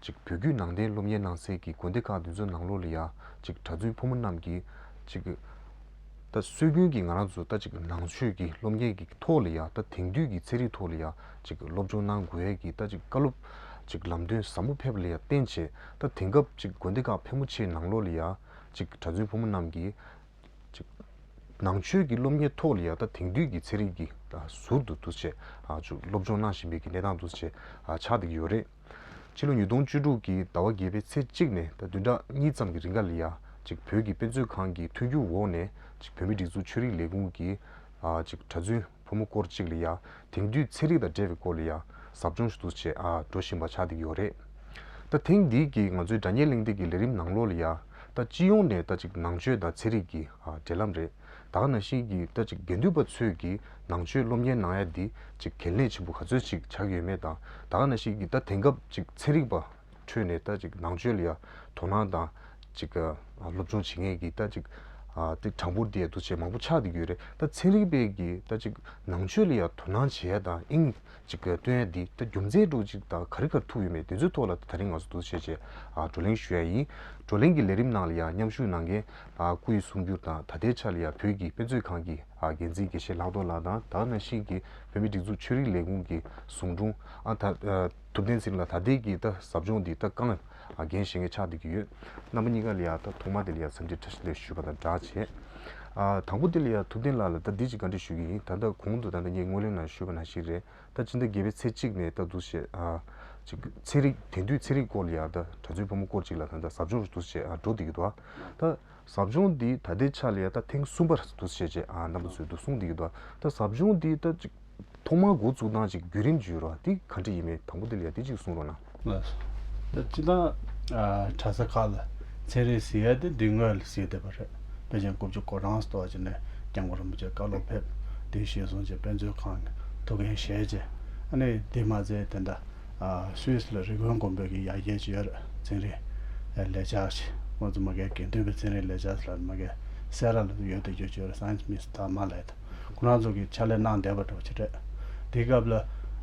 གཅིག་བོད་བརྒྱུད་ནང་བསྟན་སློབ་གཉེར་གནང་སའི་གི་དགོན་སྡེ་ཁག་བདུན་ཚོ་ནང་ལོགས་ལ་ཡ་གཅིག་གྲྭ་བཙུན་ཕོ་མོ་རྣམས་ཀྱིས་གཅིག། ད་སྲོལ་རྒྱུན་གྱི་ང་རང་ཚོ་ད་གཅིག་ནང་ཆོས་ཀྱི་སློབ་གཉེར་གྱི་ཐོག་ལ་ཡ་ད་དེང་དུས་ཀྱི་ཚན་རིག་ཐོག་ལ་ཡ་གཅིག་སློབ་སྦྱོང་གནང་དགོས་ཡ་གི་ད་གཅིག་བཀའ་སློབ་གཅིག་ལམ་སྟོན་ཟབ་མོ་ཕེབས་ལ་ཡ་བརྟེན་བྱས་ད་དེང་སྐབས་གཅིག་དགོན་སྡེ་ཁག་ཕལ་མོ་ཆེའི་ནང་ལོགས་ལ་ཡ་གཅིག་གྲྭ་བཙུན་ཕོ་མོ་རྣམས་ཀྱིས། ནང་ཆོས་ཀྱི་སློབ་གཉེར་ཐོག་ལ་ཡང་དང་དེང་དུས་ཀྱི་ཚན་རིག་གི་ཟུར་དུ་འདུ་བྱེད་སློབ་སྦྱོང་གནང་བཞིན་པའི་གནས་སྟངས་འདུ་བྱེད་ཆགས་བསྡད་ཀྱི་ཡོད་རེད། ཕྱི་ལོ་ཉིས་སྟོང་བཅུ་དྲུག་གི་ཟླ་བ་བརྒྱད་པའི་ཚེས་གཅིག་ནས་ད་བདུན་ཕྲག་གཉིས་ཙམ་གྱི་རིང་ག་ལ་ཡང་བོད་ཀྱི་དཔེ་མཛོད་ཁང་གི་མཐུན་འགྱུར་འོག་ནས་བོད་མི་སྒྲིག་འཛུགས་ཆོས་རིག་ལས་ཁུངས་ཀྱི་གྲྭ་བཙུན། བུ་མོ་སྐོར་གཅིག་ལ་ཡང་དེང་དུས་ཚན་རིག་དང་འབྲེལ་བའི་སྐོར་ལ་ཡང་ཟབ་སྦྱོང་ཞུ་གཏུགས་བྱེད་འགྲོ་བཞིན་པ་ཆགས་འདུག་ཡོད་རེད། ད་ཐེངས་འདིའི་གི་ང་ཚོའི་དྲ་བརྙན་གླེང་སྟེགས་ཀྱི་ལས་རིམ་ནང་ལོགས་ལ་ཡང་ད་སྤྱི་ཡོངས་ནས་ད་ཅིག་ནང་ཆོས་དང་ཚན་རིག་གི་འབྲེལ་ལམ་རེད་དག་ན་བཞིན་གི་ད་ཅིག་དགེ་འདུན་པ་ཚོས་གི་ནང་ཆོས་སློབ་གཉེར་གནང་ཡ་འདི་ཅིག་གལ་གནད་ཆེན་པོ་ག་ཚོད་ཅིག་ཆགས་ཀྱི་ཡོད་མེད་དང་དག་ན་བཞིན་གི་ད་དེང་སྐབས་ཅིག་ཚན་རིག་པ། ཁྲོད་ནས་ད་ཅིག་ནང་ཆོས་ལ་ཡང་དོ་སྣང་དང། ཅིག་སློབ་སྦྱོང་བྱེད་མཁན་གྱི་ད་ཅིག་དེ་གྲངས་འབོར་དེ་འདུ་བྱེད་མང་པོ་ཆགས་འདུག་ཡོད་རེད་ད་ཚན་རིག་པས་ཀྱི་ད་ཅིག་ནང་ཆོས་ལ་ཡང་དོ་སྣང་བྱེད་ཡ་དང་ཨིན་ཅིག་སྟོན་ཡ་འདི་ད་རྒྱུ་མཚན་སྒྲོག་ཅིག་དང་ག་རི་གར་ཐུག་ཡོད་མེད་དེ་ཚོའི་ཐོག་ལ་ད་རིང་ང་ཚོ་འདུ་བྱེད་ཆེད་བགྲོ་གླེང་ཞུ་ཡ་ཡིན། བགྲོ་གླེང་གི་ལས་རིམ་ནང་ལ་ཡང་མཉམ་ཞུགས་གནང་མཁན་སྐུ་ཡི་གསུང་བསྒྱུར་དང་ད་ལྟའི་ཆ་ལ་ཡང་བོད་ཀྱི་དཔེ་མཛོད་ཁང་གི་འགན་འཛིན་དགེ་བཤེས་ལྷག་རྡོར་ལགས་དང་དྭགས་ན་ཤིང་གི་བོད་མི་སྒྲིག་འཛུགས་ཆོས་རིག་ལས་ཁུངས་ཀྱི་ཟུང་དྲུང་ཨ་ད། ཐུབ་བསྟན་ཚིག་ལ་ད་ལྟའི་གི་ད་ཟབ་སྦྱོང་འདི་ད་ཀང་རྒན་བཞེངས་ཀའི་ཕྱག་འདེབས་ཀི་ཡོད། རྣམ་པ་གཉིས་ཀ་ལ་ཡ་ད་ཐོག་མ་དེ་ལ་ཡ་འཚམས་འདྲི་ཁྲ་ཞིབ་ལེགས་ཞུས་པ་དང་སྦྲགས་བྱས། དང་པོ་དེ་ལ་ཡ་ཐུབ་བསྟན་ལགས་ལ་ད་འདི་ཅིག་བཀའ་འདྲི་ཞུ་གི་ཡིན་ད་ད་གོང་དུ་ད་ད་ངས་སྔོན་གླེང་ནང་ཞུས་པ་ན་ཞིག་རེད་ད་སྤྱི་ཟླ་བརྒྱད་པའི་ཚེས་གཅིག་ནས་ད་འདུ་ཤེས། ཅིག་ཚན་རིག་དེང་དུས་ཚན་རིག་སྐོར་ལ་ཡ་ད་གྲྭ་བཙུན་ཕོ་མོ་སྐོར་ཅིག་ལ་ད་ད་ཟབ་སྦྱོང་འདུ་ཤེས་འགྲོ་འདི་གི་འདུག་ད། ཟབ་སྦྱོང་འདི་ད་ལྟའི་ཆ་ལས་ད་ཐེངས་གསུམ་པར་བསྡུ་བྱས་རྗེས་རྣམ་པ་ཚོས་བསྡུ་གསུངས་འདི་ཡོད་པ། ད་ཟབ་སྦྱོང་འདི་ད་ཅིག་ཐོག་མར་འགོ་བཙུགས་སྟངས་ཅིག་བརྒྱུད་རིམ་བརྒྱུད་རོགས་འདི་ག་འདྲ་ཡིན་མིན་དང་པོ་འདི་ལ་ཡ་འདི་ཅིག་གསུངས་རོགས་གནང། ལ་སོ། ད་སྤྱི་དང། གྲྭ་ས་ཁག་ལ་ཚན་རིག་ཟེར་ཡ་དེ་འདི་ངོས་ལ་ཟེར་བསྡད་པ་རེད། དཔེ་ཆའི་འགོ་བརྗོད་སྐོར་རང་ས་ཐོག་ཅིག་ནས་རྒྱ་མགོ་རིན་པོ་ཆེ་བཀའ་སློབ་ཕེབས་འདི་ཤེས་སོང་ཅེས་དཔེ་མཛོད་ཁང་གི་ཐུགས་འགན་བཞེས་རྗེས་ཨ་ནི་འདི་མ་ཟེར་དེ་འདྲ Swiss ལ་རི་ཀོན་དགོན་པོད་ཀྱི་ཡ་གྱལ་ཇི་ཡར་རྩིང་རི་ལས་ཇགས་ངོ་ཙུ་མ་གའི་དགེ་འདུན་པའི་རྩིང་རི་ལས་ཇགས་ལར་མ་གའི་སེ་ར་ལ་དུ་ཡོད་དེ་ཇོ་ཇོ་ར Science Miss དར་མ་ལས་དུ་ཁོ་རང་ཚོ་གི་ཕྱག་ལས་གནང་བསྡད་པ་གྲོགས་ཆེ་གྲས་དེའི་སྐབས་ལ་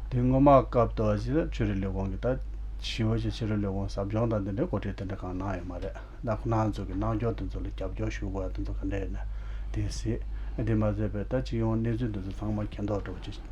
དེ་སྔོན་མ་སྐབས་དུ་བ་ཇི་ལ་ཆོས་རིག་ལས་ཁུངས་ཀྱི་ད་ཞི་བ་ཆེ་ཕྱི་རོལ་ལས་ཁུངས་ཟབ་སྦྱོང་དང་དེ་འདྲའི་གོ་སྒྲིག་དེ་འདྲ་གང་གནང་ཡོད་མ་རེད་ད་ཁོ་རང་ཚོ་གི་རྣང་འབྱོར་དེ་ཚོ་ལ་རྒྱབ་སྐྱོར་ཞུ་དགོས་བ་དེ་ཚོ་ག་འདྲས་ཡོད་ན་དེ་སྲིད་དེ་མ་ཟད་པའི་ད་སྤྱི་ཡོངས་གནས་ཚུལ་དེ་ཚོ་ཚང་མ་མཁྱེན་རྟོགས་གྲོགས་ཆེ།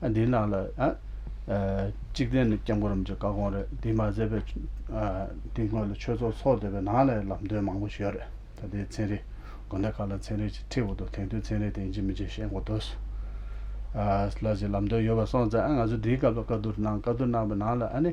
འདི་ནང་ལ། གཅིག་བསྟན་ནི་སྐྱབས་མགོན་རིན་པོ་ཆེ་བཀའ་དགོངས་རེད། འདི་མ་ཟད་པའི། འདི་སྔོན་ལ་ཆོས་ཚོགས་ཚོགས་སྡོད་པའི་ནང་ལའི་ལམ་སྟོན་མང་པོ་ཞིག་ཡོད་རེད། ད་ལྟའི་ཚན་རིག། དགོན་སྡེ་ཁག་ལ་ཚན་རིག་ཅིག་ཁྲིད་འོག་ཏུ་དེང་དུས་ཚན་རིག་དེ་ཅི་མི་ཅི་བཤད་འགོ་དོད། ལ་ཅིག་ལམ་སྟོན་ཡོད་པ་སོང་ཙང་ང་ཚོ་འདིའི་སྐབས་ལ་བཀའ་བསྡུར་གནང་བཀའ་བསྡུར་གནང་བའི་ནང་ལ་ཨ་ནི།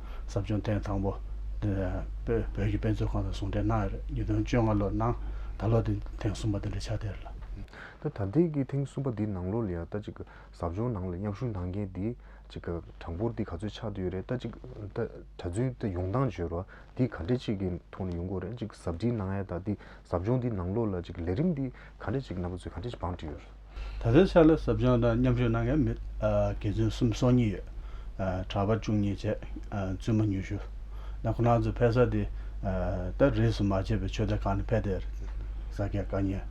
ཟབ་སྦྱོང་ཐེངས་དང་པོ། བོད་ཀྱི་དཔེ་མཛོད་ཁང་དང་ཟུང་འབྲེལ་གནང་ཡོད་རེད་ཉིས་སྟོང་བཅོ་ལྔ་ལོར་གནང། ད་ལོ་དེ་ཐེངས་གསུམ་པ་དེ་འདྲ་ཆགས་བསྡད་རེད། ད་ད་ཐེངས་ཀྱི་ཐེངས་གསུམ་པ་འདིའི་ནང་ལོ་ལ་ཡང་ད་ཅིག་ཟབ་སྦྱོང་ནང་ལ་མཉམ་ཞུགས་གནང་མཁན་དེ་ཅིག་གྲངས་འབོར་དེ་ག་ཚོད་ཆགས་བསྡད་ཡོད་རེད་ད་ཅིག་ད་གྲྭ་བཙུན་ད་ཡོང་སྟངས་བརྗོད་རོགས་དེ་ག་འདྲ་ཅིག་གི་ཐོག་ནས་ཡོང་དགོས་རེད་ཅིག་ཟབ་འདྲིས་གནང་ཡ་ད་དེ་ཟབ་སྦྱོང་དེ་ནང་ལོ་ལ་ཅིག་ལས་རིམ་དེ་ག་འདྲ་ཅིག་གནང་པ་ཚོད་ག་འདྲ་ཅིག་བང་བསྒྲིགས་ཡོད་རེད། ད་ལྟའི་ཆར་ལ་ཟབ་སྦྱོང་དང་མཉམ་ཞུགས་གནང་མཁན་མི་དགེ་བཙུན་གསུམ་སོ་གཉིས་ཡོད། གྲྭ་པ་བཅུ་གཉིས་བཅས་བཙུན་མ་ཉུ་ཤུ། ན་ཁོ་ན་ཚོ་ཕེབས་ས་དེ་ད་རེས་སུ་མ་བྱས་པའི་ཆོས་སྡེ་ཁག་ནས་ཕེབས་ཏེ་ས་སྐྱ་བཀའ་རྙིང་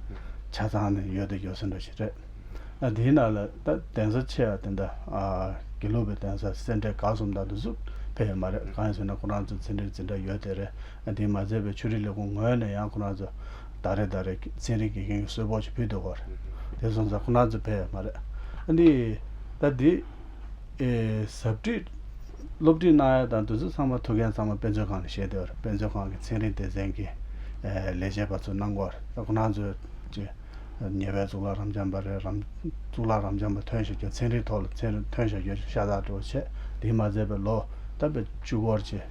ཆ་ཚང་ནས་ཡོད་དེ་ཡོད་ཟེར་འདྲ་ཞིག་རེད། དེའི་ནང་ལ་ད་གདན་ས་ཆེ་བ་དེ་འདྲ་དགེ་ལུགས་པའི་གདན་ས་སེ་འབྲས་དགའ་གསུམ་དང་དུ་ཟུར་ཕེབས་ཡོད་མ་རེད་གང་ཡིན་ཟེར་ན་ཁོ་རང་ཚོ་ཚེ་འདིར་ཇི་འདྲ་ཡོད་དེ་རེད། དེས་མ་ཚད་པའི་ཆོས་རིག་ལས་ཁུངས་ངོས་ནས་ཡང་ཁོ་ན་ཚོ་ཟླ་རེ་ཟླ་རེ་ཚན་རིག་དགེ་རྒན་གྱི་གསོལ་ཕོགས་ཅིག་ཕུལ་འདུག་གོ། དེ་སོང་ཙང་ཁོ་ན་ཚོ་ཕེབས་ཡ་མ་རེད། ཨ་ནི། ད་དེ། ཟབ་ཁྲིད། སློབ་ཁྲིད་གནང་ཡ་དང་དུས་ཚོད་ཚང་མ་ཐུག་མཁན་ཚང་མ་དཔེ་མཛོད་ཁང་ནས་བཤད་དོ། དཔེ་མཛོད་ཁང་གི་ཚན་རིག་སྡེ་ཚན་གྱི། ལས་བྱེད་པ་ཚོ་གནང་གོ། ད་ཁོ་ན་ཚོ། ཅེ། ཉེ་བའི་གཙུག་ལག་རམ་འབྱམས་པ་རེད་རམ། གཙུག་ལག་རམ་འབྱམས་པ་ཐོན་བཞག་རྒྱུ་ཚན་རིག་ཐོག་ལ་ཐོན་བཞག་རྒྱུ་ཤ་སྟག་འགྲོ་བ་ཆེ། དེས་མ་ཚད་པའི་ལོ། ད་པའི་བཅུ་སྐོར་ཅེ།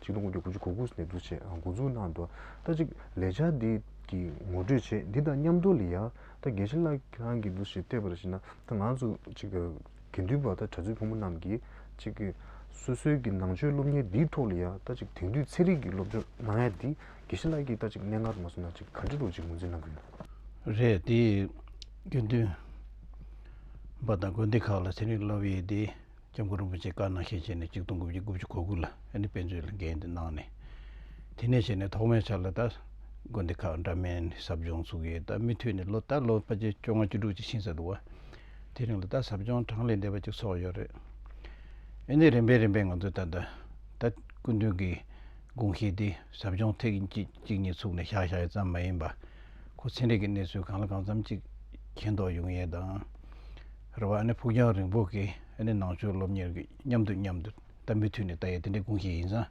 ཆིག་སྟོང་དགུ་བརྒྱ་དགུ་ཅུ་གོ་དགུ་ནས་འཛུགས་བྱས་འགོ་འཛུགས་གནང་འདུག་ལྟ་ཅིག་ལས་འཆར་འདི་གི་ངོ་སྤྲོད་ཆེད་འདི་དང་མཉམ་དུ་ལི་ཡ་ད་དགེ་བཤེས་ལགས་ཁྱེད་རང་གིས་འདུ་ཤེས་སྤྲད་པ་རེ་ཞིག་ན་ད་ང་ཚོ་ཅིག་དགེ་འདུན་པ་དང་གྲྭ་བཙུན་ཕོ་མོ་རྣམས་ཀྱིས་ཅིག་སོ་སོའི་གི་ནང་ཆོས་སློབ་གཉེར་འདིའི་ཐོག་ལི་ཡ་ད་ཅིག་དེང་དུས་ཚན་རིག་གི་སློབ་སྦྱོང་གནང་ཡ་འདི་དགེ་བཤེས་ལགས་ཀྱིས་ད་ཅིག་གནས་ལྔར་མ་སོང་ན་ཅིག་ག་འདྲི་རུ་ཅིག་ངོས་འཛིན་གནང་གི་ཡོད། རེད་དེ། དགེ་འདུན་པ་དང་དགོན་སྡེ་ཁག་ལ་ཚན་རིག་སློབ་ཡས་འདི། སྐྱབས་མགོན་རིན་པོ་ཆེས་བཀའ་གནང་ཞལ་བཞེས་ནས་གཅིག་སྟོང་དགུ་བརྒྱ་དགུ་བཅུ་གོ་དགུ་ལ་ཨ་ནི་དཔེ་མཛོད་ལ་འགན་དེ་གནང་ནས། དེ་ནས་བྱས་ནས་ཐོག་མའི་ཆར་ལ་ད། དགོན་སྡེ་ཁག་འདྲ་མིན་ནས་ཟབ་སྦྱོང་ཚུགས་ཡོད་ད་མི་མཐུད་ནས་ལོ་ལྟར་ལོ་བརྒྱད་བཅོ་ལྔ་བཅུ་དྲུག་ཅིག་ཕྱིན་ས་འདུག་བ། དེ་རིང་ལ་ད་ཟབ་སྦྱོང་གྲངས་ལས་འདས་པ་ཅིག་ཚོགས་ཡོད་རེད། ཨེ་ནི་རིམ་པས་རིམ་པས་ང་ཚོས་ད། ད་སྐུ་མདུན་གྱི་དགོངས་བཞེད་དེ་ཟབ་སྦྱོང་ཐེག་གཅིག་གཅིག་གཉིས་ཚུགས་ནས་བཞག་བཞག་ཡོད་ཙམ་མ་ཡིན་པ། ཁོ་ཚན་རིག་གི་གནས་ཚུལ་གང་ལ་གང་འཚམ་ཅིག་མཁྱེན་རྟོགས་ཡོང་ཡས་དང། རེ་བ་ཕུགས་རྒྱང་རིང་པོ་གི་ནང་ཆོས་སློབ་གཉེར་གྱི་མཉམ་དུ་མཉམ་དུ་ད་མུ་མཐུད་ནས་ད་ཡི་དེ་འདྲའི་དགུང་ཞིག་ཡིན་ཙང་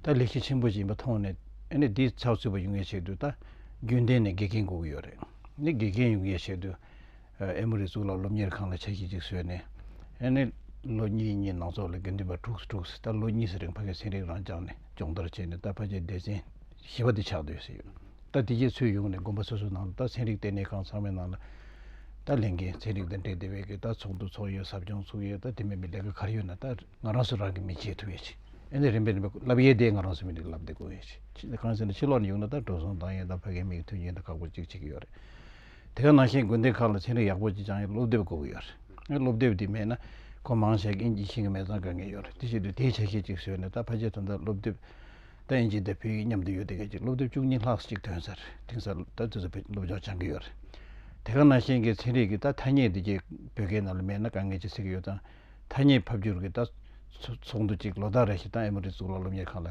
ད་ལེགས་བཤད་ཆེན་པོ་ཞིག་ཡིན་པ་མཐོང་ནས་འདིའི་ཚགས་ཚུད་པ་ཡོང་མཁན་ཞིག་ཏུ་ད་རྒྱུན་ལྡན་ནས་དགེ་རྒན་དགོས་ཀྱི་ཡོད་རེད་ནས་དགེ་རྒན་ཡོང་མཁན་ཞིག་ཏུ་ཨེ་མོ་རེ་གཙུག་ལག་སློབ་གཉེར་ཁང་ལ་ཆ་ཤས་ཅིག་བཟོས་ནས་ནས་ལོ་གཉིས་གཉིས་ནང་ཚོགས་ལ་དགེ་འདུན་པ་དྲུག་སུ་དྲུག་སུ་ད་ལོ་གཉིས་སུ་རིང་ཕ་གིའི་ཚན་རིག་རང་སྦྱངས་ནས་སྦྱོང་བརྡར་བྱས་ནས་ད་ཕ་གྱའི་སྡེ་ཚན་བཞི་བ་དེ་ཆགས་སྡོད་ཟེར་ཡོད། ད་དེ་རྗེས་ཚོད་ཡོང་ནས་དགོན་པ་སོ་སོའི་ནང་དུ་ད་ཚན་རིག་ལྟེ་གནས་ཁང་ཚང་མའི་ནང་ལ་ད་ལས་འགན་ཚན་རིག་དང་འབྲེལ་དེ་བས་ཀྱི་ད་ཚོགས་འདུ་ཚོགས་ཡོད་ཟབ་སྦྱོང་ཚུགས་ཡོད་ད་དེ་མིན་པའི་ལས་ཀ་གར་ཡོད་ན་ད་ང་རང་སུ་རང་གིས་མི་བྱེད་ཐུབ་ཡོད་ཅིག་ཨེ་ནས་རིམ་པས་རིམ་པས་བསླབ་ཡས་དེ་ང་རང་སུ་མི་འགྲིག་བསླབ་དེ་དགོས་ཡོད་ཅིག་གང་ཟེར་ན་ཕྱི་ལོགས་ནས་ཡོང་ན་ད་འགྲོ་སོང་བཏང་ཡོད་ད་ཕ་གའི་མིག་མཐུན་རྐྱེན་ད་ཁག་པོ་གཅིག་བྱེད་ཀྱི་ཡོད་རེད་དེ་ག་ནང་བཞིན་དགོན་སྡེ་ཁག་ལ་ཚན་རིག་ཡག་པོ་གཅིག་སྦྱང་ཡོད་སློབ་དེབ་དགོས་ཀྱི་ཡོད་རེད་སློབ་དེབ་དེ་མེད་ན་ཁོ་མང་བྱས་ཀྱིན་གྱི་ཤིང་གི་མེ་ཙང་དགོས་ངེས་ཡོད་རེད་དེ་བཞིན་དུ་དེའི་བྱ་ཤེས་གཅིག་བཟོས་ནས་ད་ཕ་ཆེ་དོན་དག་སློབ་དེབ་ལྟ་ཡིན་གཅིག་ལྟ་ཕུལ་ཡིན་མཉམ་དུ་ཡོད་དེ་གལ་ཆེ་སློབ་དེབ་བཅུ་གཉིས་ལྷག་ཅིག་ཐོན་སར་དེང་སང་ལྟ་དེ་ཚོ་བོད་ཀྱི་སློབ་སྦྱོང་སྦྱང་གི་ཡོད་རེད་དེ་ག་ནང་བཞིན་གྱི་ཚན་རིག་གི་ལྟ་ཐ་སྙད་འདི་གཅིག་བོད་སྐད་ནང་ལ་མེད་ན་དཀའ་ངལ་ཅིག་སེལ་གི་ཡོད་ཙང་ཐ་སྙད་ཕབ་སྒྱུར་གི་ལྟ་ཚོགས་འདུ་གཅིག་ལོ་ཟླ་རེ་བཞིན་ཏང་ཨེ་མོ་རི་གཙུག་ལག་སློབ་གཉེར་ཁང་ལ་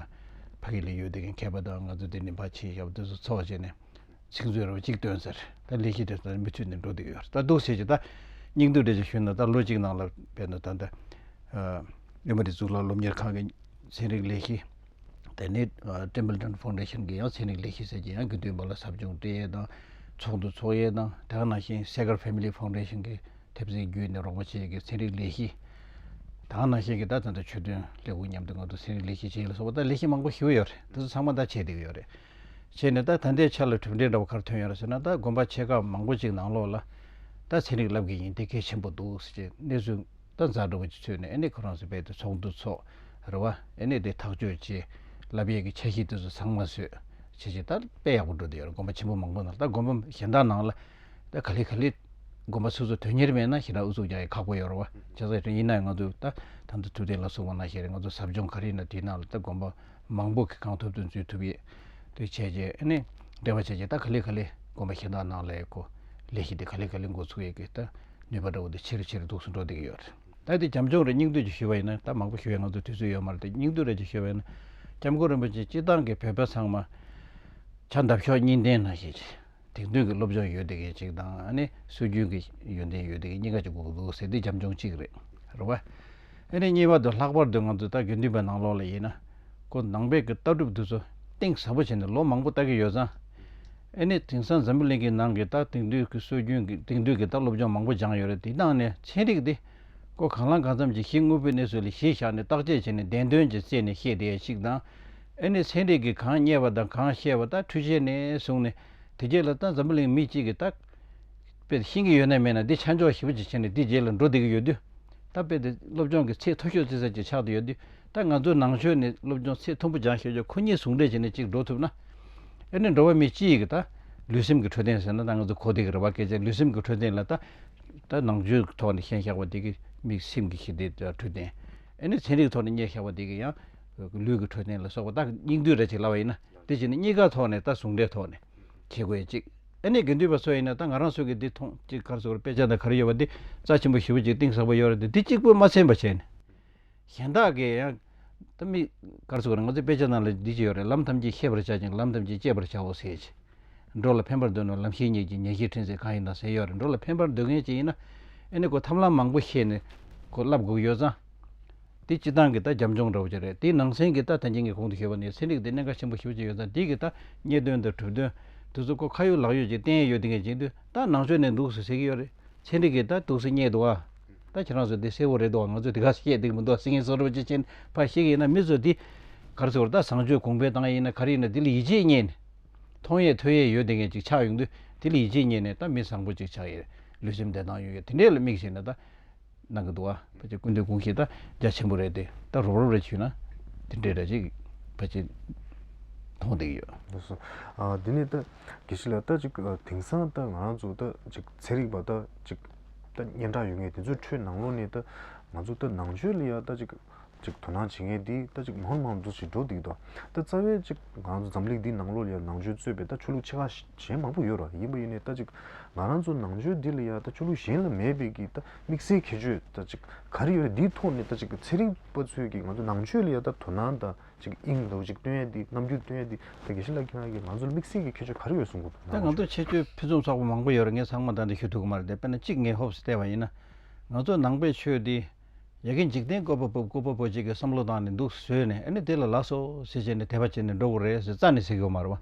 ཕ་གི་ལས་ཡོད་དེ་གན་མཁས་པ་དང་ང་ཚོ་དེ་ནས་འབའ་ཆིངས་ཞབས་དེ་ཚོ་ཚོགས་བྱས་ནས་ཚིག་མཛོད་རེ་བ་གཅིག་ཐོན་སར་ལྟ་ལས་གཞི་དེ་ཚོ་ནས་མི་ཚུད་ནས་འགྲོ་དེ་གི་ཡོད་རེད་ལྟ་འདུག་ཟེར་གྱི་ལྟ་སྙིང་བསྡུས་རེ་ཅིག་ཞུས་ན་ལྟ་ལོ་གཅིག་ནང་ལ་བས་ན་ད་ལྟ་ཨེ་མོ་རི་གཙུག་ལག་སློབ་གཉེར་ཁང་གི་ཚན་རིག་ལས་གཞི། དེ་ནས Templeton Foundation གྱི་ཡང་ཚན་རིག་ལས་གཞི་ཟེར་གྱི་ཡང་དགེ་འདུན་པ་ལ་ཟབ་སྦྱོང་སྤྲད་ཡས་དང་ཚོགས་འདུ་འཚོགས་ཡས་དང་དེ་ཡང་ནང་བཞིན Sager Family Foundation གྱི་ཐེབས་རྩའི་བརྒྱུད་ནས་རོགས་པ་བྱས་ཡས་ཀྱི་ཚན་རིག་ལས་གཞི། ད་ཡང་ནང་བཞིན་གྱི་ད་ད་ལྟ་ཆོས་དོན་ལས་ཁུངས་མཉམ་དུ་ང་ཚོ་ཚན་རིག་ལས་གཞི་བྱས་ཡས་ལ་སོགས་པ་ད་ལས་གཞི་མང་པོ་ཞུ་ཡས་ཡོད་རེད་དེ་ཚོ་ཚང་མ་ད་བྱས་བསྡད་ཡོད་རེད། བྱས་ནས་ད་ད་ལྟའི་ཆར་ལ་གྲུབ་འབྲས་འདྲ་བོ་གར་ཐོན་ཡོད་རེད་ཟེར་ན་ད་དགོན་པ་ཆེ་ཁག་མང་པོ་ཅིག་ནང་ལོགས་ལ་ད་ཚན་རིག་ལབ་གྱི་ཡིན་དེ་གལ་ཆེན་པོ་འདུག་ཟེར་གྱི་གནས་ཚུལ། ད་བཟའ་བྲོ་བོ་ཅིག་ཚུད་ནས་ཨེ་ནས་ཁོ་རང་ཚོའི་བེད་དུ་ཚོགས་འདུ་ཚོགས། རེ་བ། ཨེ་ནས་དེ་ཐག་གཅོད་བྱེད། ལབ་ཡས་ཀྱི་ཆ་ཤིག་དེ་ཚོ་ཚང་མ་བཟོས། བྱས་བྱས་ད་དཔེ་ཡག་པོ་འགྲོ་དེ་ཡོད་རེད་དགོན་པ་ཆེན་པོ་མང་པོ་ནང་ད་དགོན་པ་གཞན་དག་ནང་ལ། ད་ག་ལེ་ག་ལེ། དགོན་པ་སོ་སོ་དོན་གཉེར་མེད་ན་ཞེ་དྲག་ཨུ་ཚུགས་རྒྱག་ཡ་ཁག་པོ་ཡོད་རེ་བ། བྱས་ས་ཡིན་ན་ང་ཚོ་ད་ད་འདི་ཐུབ་བསྟན་ལ་སོགས་པ་ན་ཞེ་རེ་ང་ཚོ་ཟབ་སྦྱོང་ག་རེ་ཡིན་ན་དེ་ནང་ལ་ད་དགོན་པ་མང་པོ་གི་གང་ཐུབ་དོན་འཛུལ་ཐུབ་ཡས། དེ་བྱས་བྱས་ཨེ་ནས། རེ་བ་བྱས་བྱས་ད་ག་ལེ་ག་ལེ་དགོན་པ་གཞན་དག་ནང་ལ་ཡས་ཀོ། ལས་གཞི་དེ་ག་ལེ་ག་ལེ་འགོ་ཚུགས་ཡས་ཀི་ད། ནུས་པ་འདྲ་བོ་དེ་ཆེ་རུ་ཆེ་རུ་འདུག་སུ་འགྲོ་བསྡད་ཀྱི་ཡོད་རེད། ད་དེ་རྒྱམ་ཆུང་རེ་སྙིང་བསྡུས་ཀྱི་ཞུས་པ་ཡིན་ན་ད་མང་པོ་ཞུ་ཡ་ང་ཚོ་དུས་ཚོད་ཡོད་མ་རེད་དེ་སྙིང་བསྡུས་རེ་ཅིག་ཞུས་པ་ཡིན་ན། ལྕམ་སྐུ་རིན་པོ་ཆེ་སྤྱི་བཏང་གི་བོད་པ་ཚང་མ། ཕྱག་འདབ་ཤོག་གཉིས་ལྡན་ན་ཞིག། དེང་དུས་ཀྱི་སློབ་སྦྱོང་ཡོད་བསྡད་མཁན་ཅིག་དང་ཨ་ནི་སྲོལ་རྒྱུན་གྱི་ཡོན་ཏན་ཡོད་བསྡད་མཁན་གཉིས་ཀ་ཅིག་དགོས་ཀྱི་འདུག་ཟེར་དུས་རྒྱམ་ཆུང་གཅིག་རེད་རེད་བ། ཨ་རིའི་གཉིས་པ་དུ་ལྷག་པར་དུ་ང་ཚོ་ལྟ་དགེ་འདུན་པའི་ནང་ལོགས་ལ་ཡིན་ན། ཁོ་ནང་པའི་གི་ལྟ་གྲུབ་དེ་ཚོ་གཏིང་ཟབ་པོ་བྱས་ནས་ལོ་མང་པོ་ལྟ་གི་ཡོད་ཙང། ཨ་ནི་དེང་སང་འཛམ་བུ་གླིང་གི་ནང་གི་ལྟ་དེང་དུས་ཀི་སྲོལ་རྒྱུན་གི་དེང་དུས་ཀི་ལྟ་སློབ་སྦྱོང་མང་པོ་སྦྱངས་ཡོད་རེད་དེ་ནང་ནས་ཚན་རིག་དེ། ཁོ་གང་ལང་གང་འཚམ་གྱི་གཞི་དངོས་པོའི་གནས་ཚུལ་ལ་གཞི་བཞག་ནས་བརྟག་དཔྱད་བྱས་ནས་བདེན་དོན་གྱི་རྩད་ནས་བཤད་བསྡད་ཡ་ཞིག་དང། ཨ་ནི་ཚན་རིག་གི་གང་རྙེད་པ་དང་གང་ཤེས་པ་ལྟ་འཁྲུལ་བྱས་ནས་བཟུང་ནས་དེ་རྗེས་ལ་ལྟ་འཛམ་བུ་གླིང་མི་གཅིག་གི་ལྟ། དཔེ་དེ་ཤེས་ཀྱི་ཡོད་ནའི་མེད་ན་འདི་ཆ་འཇོག་ཞིབ་པོ་ཅིག་བྱས་ནས་འདིའི་རྗེས་ལ་འགྲོ་བསྡད་ཀྱི་ཡོད་དུས། ད་དཔེ་དེ་སློབ་སྦྱོང་གི་ཚད་མཐོ་ཤོས་བརྩི་ས་ཅིག་ཆགས་ཀྱི་ཡོད་དུས་ད་ང་ཚོའི་ནང་ཆོས་ནི་སློབ་སྦྱོང་ཚད་མཐོན་པོ་སྦྱང་ཤེས་ཆོག་ཁོ་གཉིས་ཟུང་འབྲེལ་བྱས་ནས་ཅིག་འགྲོ་ཐུབ་ན། ཨེ་ནས་འགྲོ་བ་མི་གཅིག་གིས་ད། ལུས་སེམས་ཀྱི་འཕྲོད་བསྟེན་ཟེར་ན་ད་ང་ཚོ་གོ་བདེ་གི་རེ་བ་སྐད་ཆ་ལུས་སེམས་ཀྱི་འཕྲོད་བསྟེན་ལ་ད། ད་ནང་ཆོས་ཀྱི་ཐོག་ནས་ཤན་བཞག་པ་དེ་གི་མིག་སེམས་ཀྱི་ཞི་བདེ་འཕྲོད་བསྟེན། ཨེ་ནས་ཚན་རིག་གི་ཐོག་ནས་གཉེར་བཞག་པ་དེ་གི་ཡང། ལུས་ཀྱི་འཕྲོད་བསྟེན་ལ་སོགས་པ་ད་སྙིང་བསྡུས་རེ་བྱེད་སླ་བ་ཡིན་ན་དེ་བྱས་ནས་གཉིས་ཀ་ཐོག་ནས་ད་ཟུང་འབྲེལ་ཐོག་ནས། བྱེད་དགོས་ཅིག། ཨ་ནེ་དགེ་འདུན་པ་སོགས་ཡིན་ན་ད་ང་རང་སུ་གི་འདི་མཐོང་ཅིག་གར་སོང་དཔེ་ཆ་དང་གར་ཡོད་པ་འདི་རྩ་ཆེན་པོ་ཞིབ་པོ་ཅིག་གཏིང་ཟབ་པོ་ཡོད་རེད་འདི་འདི་གཅིག་པོས་མ་ཚན་པ་བྱས་ནས། གཞན་དག་གིས་ཡང། ད་མི། གར་སོང་ང་ཚོའི་དཔེ་ཆ་རྣམས་ལ་འདི་ཅི་ཡོད་རེད་ལམ་ཐམས་ཅད་ཤེས་པར་བྱ་ཅིང་ལམ་ཐམས་ཅད་སྤྱད་པར་བྱའོ་ཟེར་གྱི། འགྲོ་ལ་ཕན་པར་འདོད་ན་ལམ་ཤེས་ཉིད་ཀྱིས་ཉན་ཤེས་འཕྲིན་ཟེར་གང་ཡིན་དང་ཟེར་ཡོད་རེད་འགྲོ་ལ་ཕན་པར་འདོད་མཁན་ཅིག་ཡིན་ན། ཨ་ནེ་ཁོ་ཐབས་ལམ་མང་པོ་ཤེས་ནས། ཁོ་བསླབ་དགོས་ཀྱི་ཡོད་ཙང། འདི་སྤྱི་སྟངས་ཀྱི་ད་རྒྱབ་འཇོག་འདྲ་བོ་ཅིག་རེད་དེའི་ནང་ཚན་གྱི་ད་ཐེན་ཅན་གྱི་གོང་དུ་ཞུས་པ་ནི་ཚན་རིག་དེ་གནད་འགག་ཆེན་པོ་ཞིག་ཅིག་ཡོད་ཙང་འདི་གི་ད་རྙེད་དོན་དང་གྲུབ་དོན། དུས་ཚོད་ཀོ་ཁ་ཡོད་ལག་ཡོད་ཅིག་བསྟན་ཡོད་དེ་ངས་སྦྱིན་དུས་ད་ནང་ཆོས་ནས་འདུག་ཟེར་ཟེར་གྱི་ཡོད་རེད། ཚན་རིག་གི་ད་དུག་སེལ་རྙེད་འདུག་ཨ། ད་ཁྱེད་རང་ཚོས་འདི་གསལ་བོ་རེད་འདུག་ཨ་ང་ཚོས་འདི་ག་ཚོད་བཤད་འདུག་མི་འདུག་ཨ་སེང་གེ་ཚོ་ར་བ་ཅི་ཆེན་པ་ཞིག་ཡིན་ན་མི་ཚོས་འདི་གར་ཚོར་ད་བཟང་སྤྱོད་གོང་འཕེལ་བཏང་ཡས་ཡིན་ན་ག་རེ་ཡིན་ན་འདི་ལ་ཡིད་ཆེས་རྙེད་ནས། མཐོང་ཡས་ཐོས་ཡས་ཡོད་དེ་ངས་ཅིག་ཆགས་ཡོང་དུས་འདི་ལ་ཡིད་ཆེས་རྙེད་ནས་ད་མི་བཟང་པོ་ཅིག་ཆགས་ཡས་རེད་ལུས་སེམས་བདེ་ཐང་ཡོད་ཡས་དེ་འདྲས་ལ་དམིགས་བྱས་ནས་ད། གནང་གི་འདུག་བ་ཕལ་ཆེར་སྐུ་མདུན་དགུང་ཞིག་ད་རྒྱ་ཆེན་པོ་རེད་དེ་ད་རོབ་རོབ་རེད་ཞུས་ན་དེ་འདྲའི་རེད་ཅེས་ཕལ་ཆེར་མཐོང་བསྡད་ཀྱི་ཡོད། ལགས་སོ། དེ་ནས་ད་གལ་སྲིད་ལ་ད་ཅིག་དེང་སང་ད་ང་རང་ཚོ་ད་ཅིག་ཚན་རིག་པ་ད་ཅིག་ད་སྙན་གྲགས་ཡོད་ངེས་དེ་ཚོའི་ཁྲོད་ནང་ལོགས་ནས་ད་ང་ཚོ་ད་ནང་ཆོས་ལ་ཡང་ད་ཅིག་ཅིག་དོ་སྣང་བྱེད་མཁན་དེས་ད་ཅིག་མང་དུ་མང་དུ་བྱེད་འགྲོ་འདུག་ད་རྩ་བའི་ཅིག་ང་རང་ཚོ་འཛམ་གླིག་འདིའི་ནང་ལོ་ལ་ཡང་ནང་ཆོས་རྩོད་པའི་ད་ཆོས་ལུགས་ཆེ་ཁག་གཞན་མང་པོ་ཡོད་ར་ཡིན་པ་ཡིན་ནའི་ད་ཅིག་ང་རང་ཚོ་ནང་ཆོས་འདི་ལ་ཡང་ད་ཆོས་ལུགས་གཞན་ལ་མེད་པའི་གི་ད་དམིགས་བསལ་ཁྱད་ཆོས་ད་ཅིག་ག་རེ་ཡོད་ར་འདིའི་ཐོག་ནས་ད་ཅིག་ཚེ་རིང་པ་ཚོས་གི་ང་ཚོ་ནང་ཆོས་ལ་ཡང་ད་དོ་སྣང་ད་ཅིག་དབྱིངས་ད་ཅིག་སྟོན་ཡ་འདི་རྣམ་འགྱུར་སྟོན་ཡ་འདི་ད་དགེ་བཤེས་ལགས་ཁྱེད་རང་གིས་ང་ཚོ་ལ་དམིགས་བསལ་གྱི་ཁྱད་ཆོས་ག་རེ་ཡོད་གསུང་གོ་ད་ནང་ཆོས་ཁྱད་ཆོས་ཕུན་སུམ་ཚོགས་པ་མང་པོ་ཡོད་ར་ངས་ཚང་མ་ད་འདི་ཞུ་ཐུབ་གི་མ་རེད་དཔེར་ན་ཅིག་ངས་ཧོབ་སི་བལྟས་པ་ཡིན་ན་ང་ཚོ་ནང་པའི་ཆོས་འདི། ཡི་གེ་འཇིག་རྟེན་བཀོད་པ་པོ་བཀོད་པ་པོ་གཅིག་གི་བསམ་བློ་དང་ནི་འདུག་ཟོས་ནས་ཨ་ནི་དེ་ལ་ལགས་སོ་ཞེས་བྱས་ནས་དད་པ་བྱས་ནས་འགྲོ་དགོས་རེད་ཟེར་རྩ་ནས་ཟེར་གི་ཡོད་མ་རེད་བ།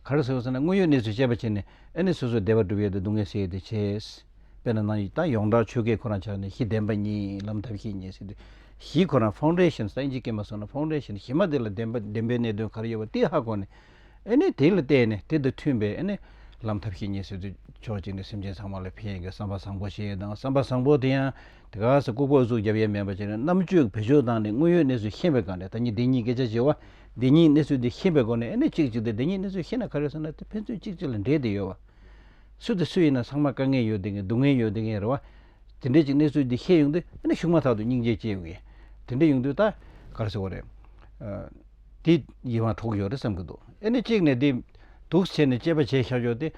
ག་རེ་ཟེར་བ་ཟེར་ན་དངོས་ཡོད་གནས་ཚུལ་དཔྱད་པ་བྱས་ནས་ཨ་ནི་སོ་སོའི་བདེ་བ་སྒྲུབ་ཡས་དེ་སྡུག་བསྔལ་སེལ་ཡས་དེ་བྱས་ཡས། དཔེར་ན་ནང་ད་ཡོངས་གྲགས་ཆོས་སྐད་ཁོ་རང་ཆགས་ནས་གཞི་བདེན་པ་གཉིས་ལམ་ཐབས་ཤེས་གཉིས་ཟེར་དུས་གཞི་ཁོ་རང Foundations ད་ཨིན་ཇི་སྐད་མ་སོང་ན Foundation གཞི་མ་དེ་ལ་བདེན་པ་བདེན་པའི་གནད་དོན་ག་རེ་ཡོད་པ་དེ་ཧ་གོ་ནས་ཨ་ནི་དེ་ལ་བལྟས་ནས་དེ་དང་མཐུན་པའི་ཨ་ནི་ལམ་ཐབས་ཤེས་གཉིས་ཟེར་དུས་ཕྱོགས་གཅིག་ནས་སེམས་ཅན་ཚང་མ་ལ་ཕན་ཡས་ཀྱི་བསམ་པ་བཟང་པོ་བྱས་ཡས་དང་བསམ་པ་བཟང་པོ་དེ་ཡང། དེ་ག་ས་ལྐུགས་པ་ཨུ་ཚུགས་རྒྱབ་ཡས་མེད་པ་བྱས་ནས་རྣམ་དཔྱོད་བེད་སྤྱོད་བཏང་ནས་དངོས་ཡོད་གནས་ཚུལ་ཤེས་པའི་སྒང་ནས་ད་ཉིད་བདེན་གཉིས་སྐད་ཆ་བྱེད་བ། བདེན་གཉིས་གནས་ཚུལ་འདི་ཤེས་པའི་སྒོ་ནས་ཨེ་ནས་གཅིག་གཅིག་དེ་བདེན་གཉིས་གནས་ཚུལ་ཤེས་ན་ག་རེ་ཟེར་ན་དེ་ཕན་ཚུན་གཅིག་གཅིག་ལ་འབྲེལ་དེ་ཡོད་བ། སུ་དེ་སུ་ཡིན་ན་ཚང་མ་དཀའ་ངལ་ཡོད་དེ་ངན་སྡུག་བསྔལ་ཡོད་དེ་ངན་རེད་བ། དེ་འདྲའི་གཅིག་གནས་ཚུལ་འདི་ཤེས་ཡོང་དུས་ཨེ་ནས་གཞུག་མ་ཐག་ཏུ་སྙིང་རྗེ་སྐྱེ་ཡོང་ཡས། དེ་འདྲ་ཡོང་དུས་ད་ག་རེ་ཟེར་བ་རེད། འདི་ཡིད་དབང་འཕྲོག་གི་ཡོད་རེད་བསམ་གྱི་འདུག་ཨེ་ནི་གཅིག་ནས་འདི། སྡུག་བྱས་ནས་སྤྱད་པ་བྱས་ཤག་ཤོག་སྟེ།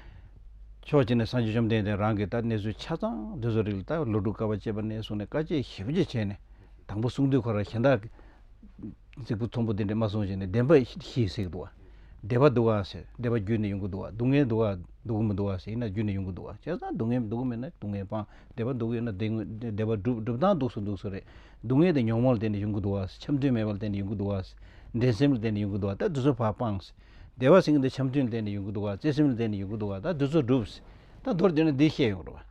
ཕྱོགས་གཅིག་ནས་སངས་རྒྱས་བཅོམ་ལྡན་འདས་རང་གིས་ད་གནས་ཚུལ་ཆ་ཚང་འདི་ཚོ་རིག་ལ་ད་བློ་སྒྲུབ་དཀའ་བ་སྤྱད་པ་ནས་བཟུང་ནས་དཀའ་སྤྱད་ཞིབ་སྤྱད་བྱས་ནས། དང་པོ་གསུང་དུས་ཁོ་རང་གཞན་དག་གི། ཙིག་པུ་ཚོམ་བུ་དེ་འདྲས་མ་གསུངས་བྱས་ནས་བདེན་པ་ཞེས་ཟེར་གི་འདུག་བ། བདེ་བ་འདུག་ཨང་ཟེར་བདེ་བ་རྒྱུད་ནས་ཡོང་གི་འདུག་བ་སྡུག་བསྔལ་འདུག་ཨ་སྡུག་གི་མི་འདུག་ཨ་ཟེར་ཡིན་ན་རྒྱུད་ནས་ཡོང་གི་འདུག་བ་བྱས་ཙང་སྡུག་བསྔལ་འདུག་གི་མེད་ན་སྡུག་བསྔལ་སྤངས་བདེ་བ་འདུག་གི་ཡོད་ན་བདེ་བ་འགྲུབ་བདེ་བ་འདུག་སུ་འདུག་སུ་རེད། སྡུག་བསྔལ་དང་ཉོག་མ་ལ་བརྟེན་ནས་ཡོང་གི་འདུག་བ། འཆམ་མཐུན་མེད་པ་ལ་བརྟེན་ནས་ཡོང་གི་འདུག་བ། འགྲན་སེམས་ལ་བརྟེན་ནས་ཡོང་གི་འདུག་བ་ད་དུས་ཚོད་བར་སྤངས། བདེ་བ་ཟིན་གི་འདུག་འཆམ་མཐུན་ལ་བརྟེན་ནས་ཡོང་གི་འདུག་བ་བརྩེ་སེམས་ལ་བརྟེན་ནས་ཡོང་གི་འདུག་བ་ད་དུས་ཚོད་འགྲུབ། ད་མདོར་བསྡུས་ན་འདི་བཤད་ཡོང་གི་རེད་བ།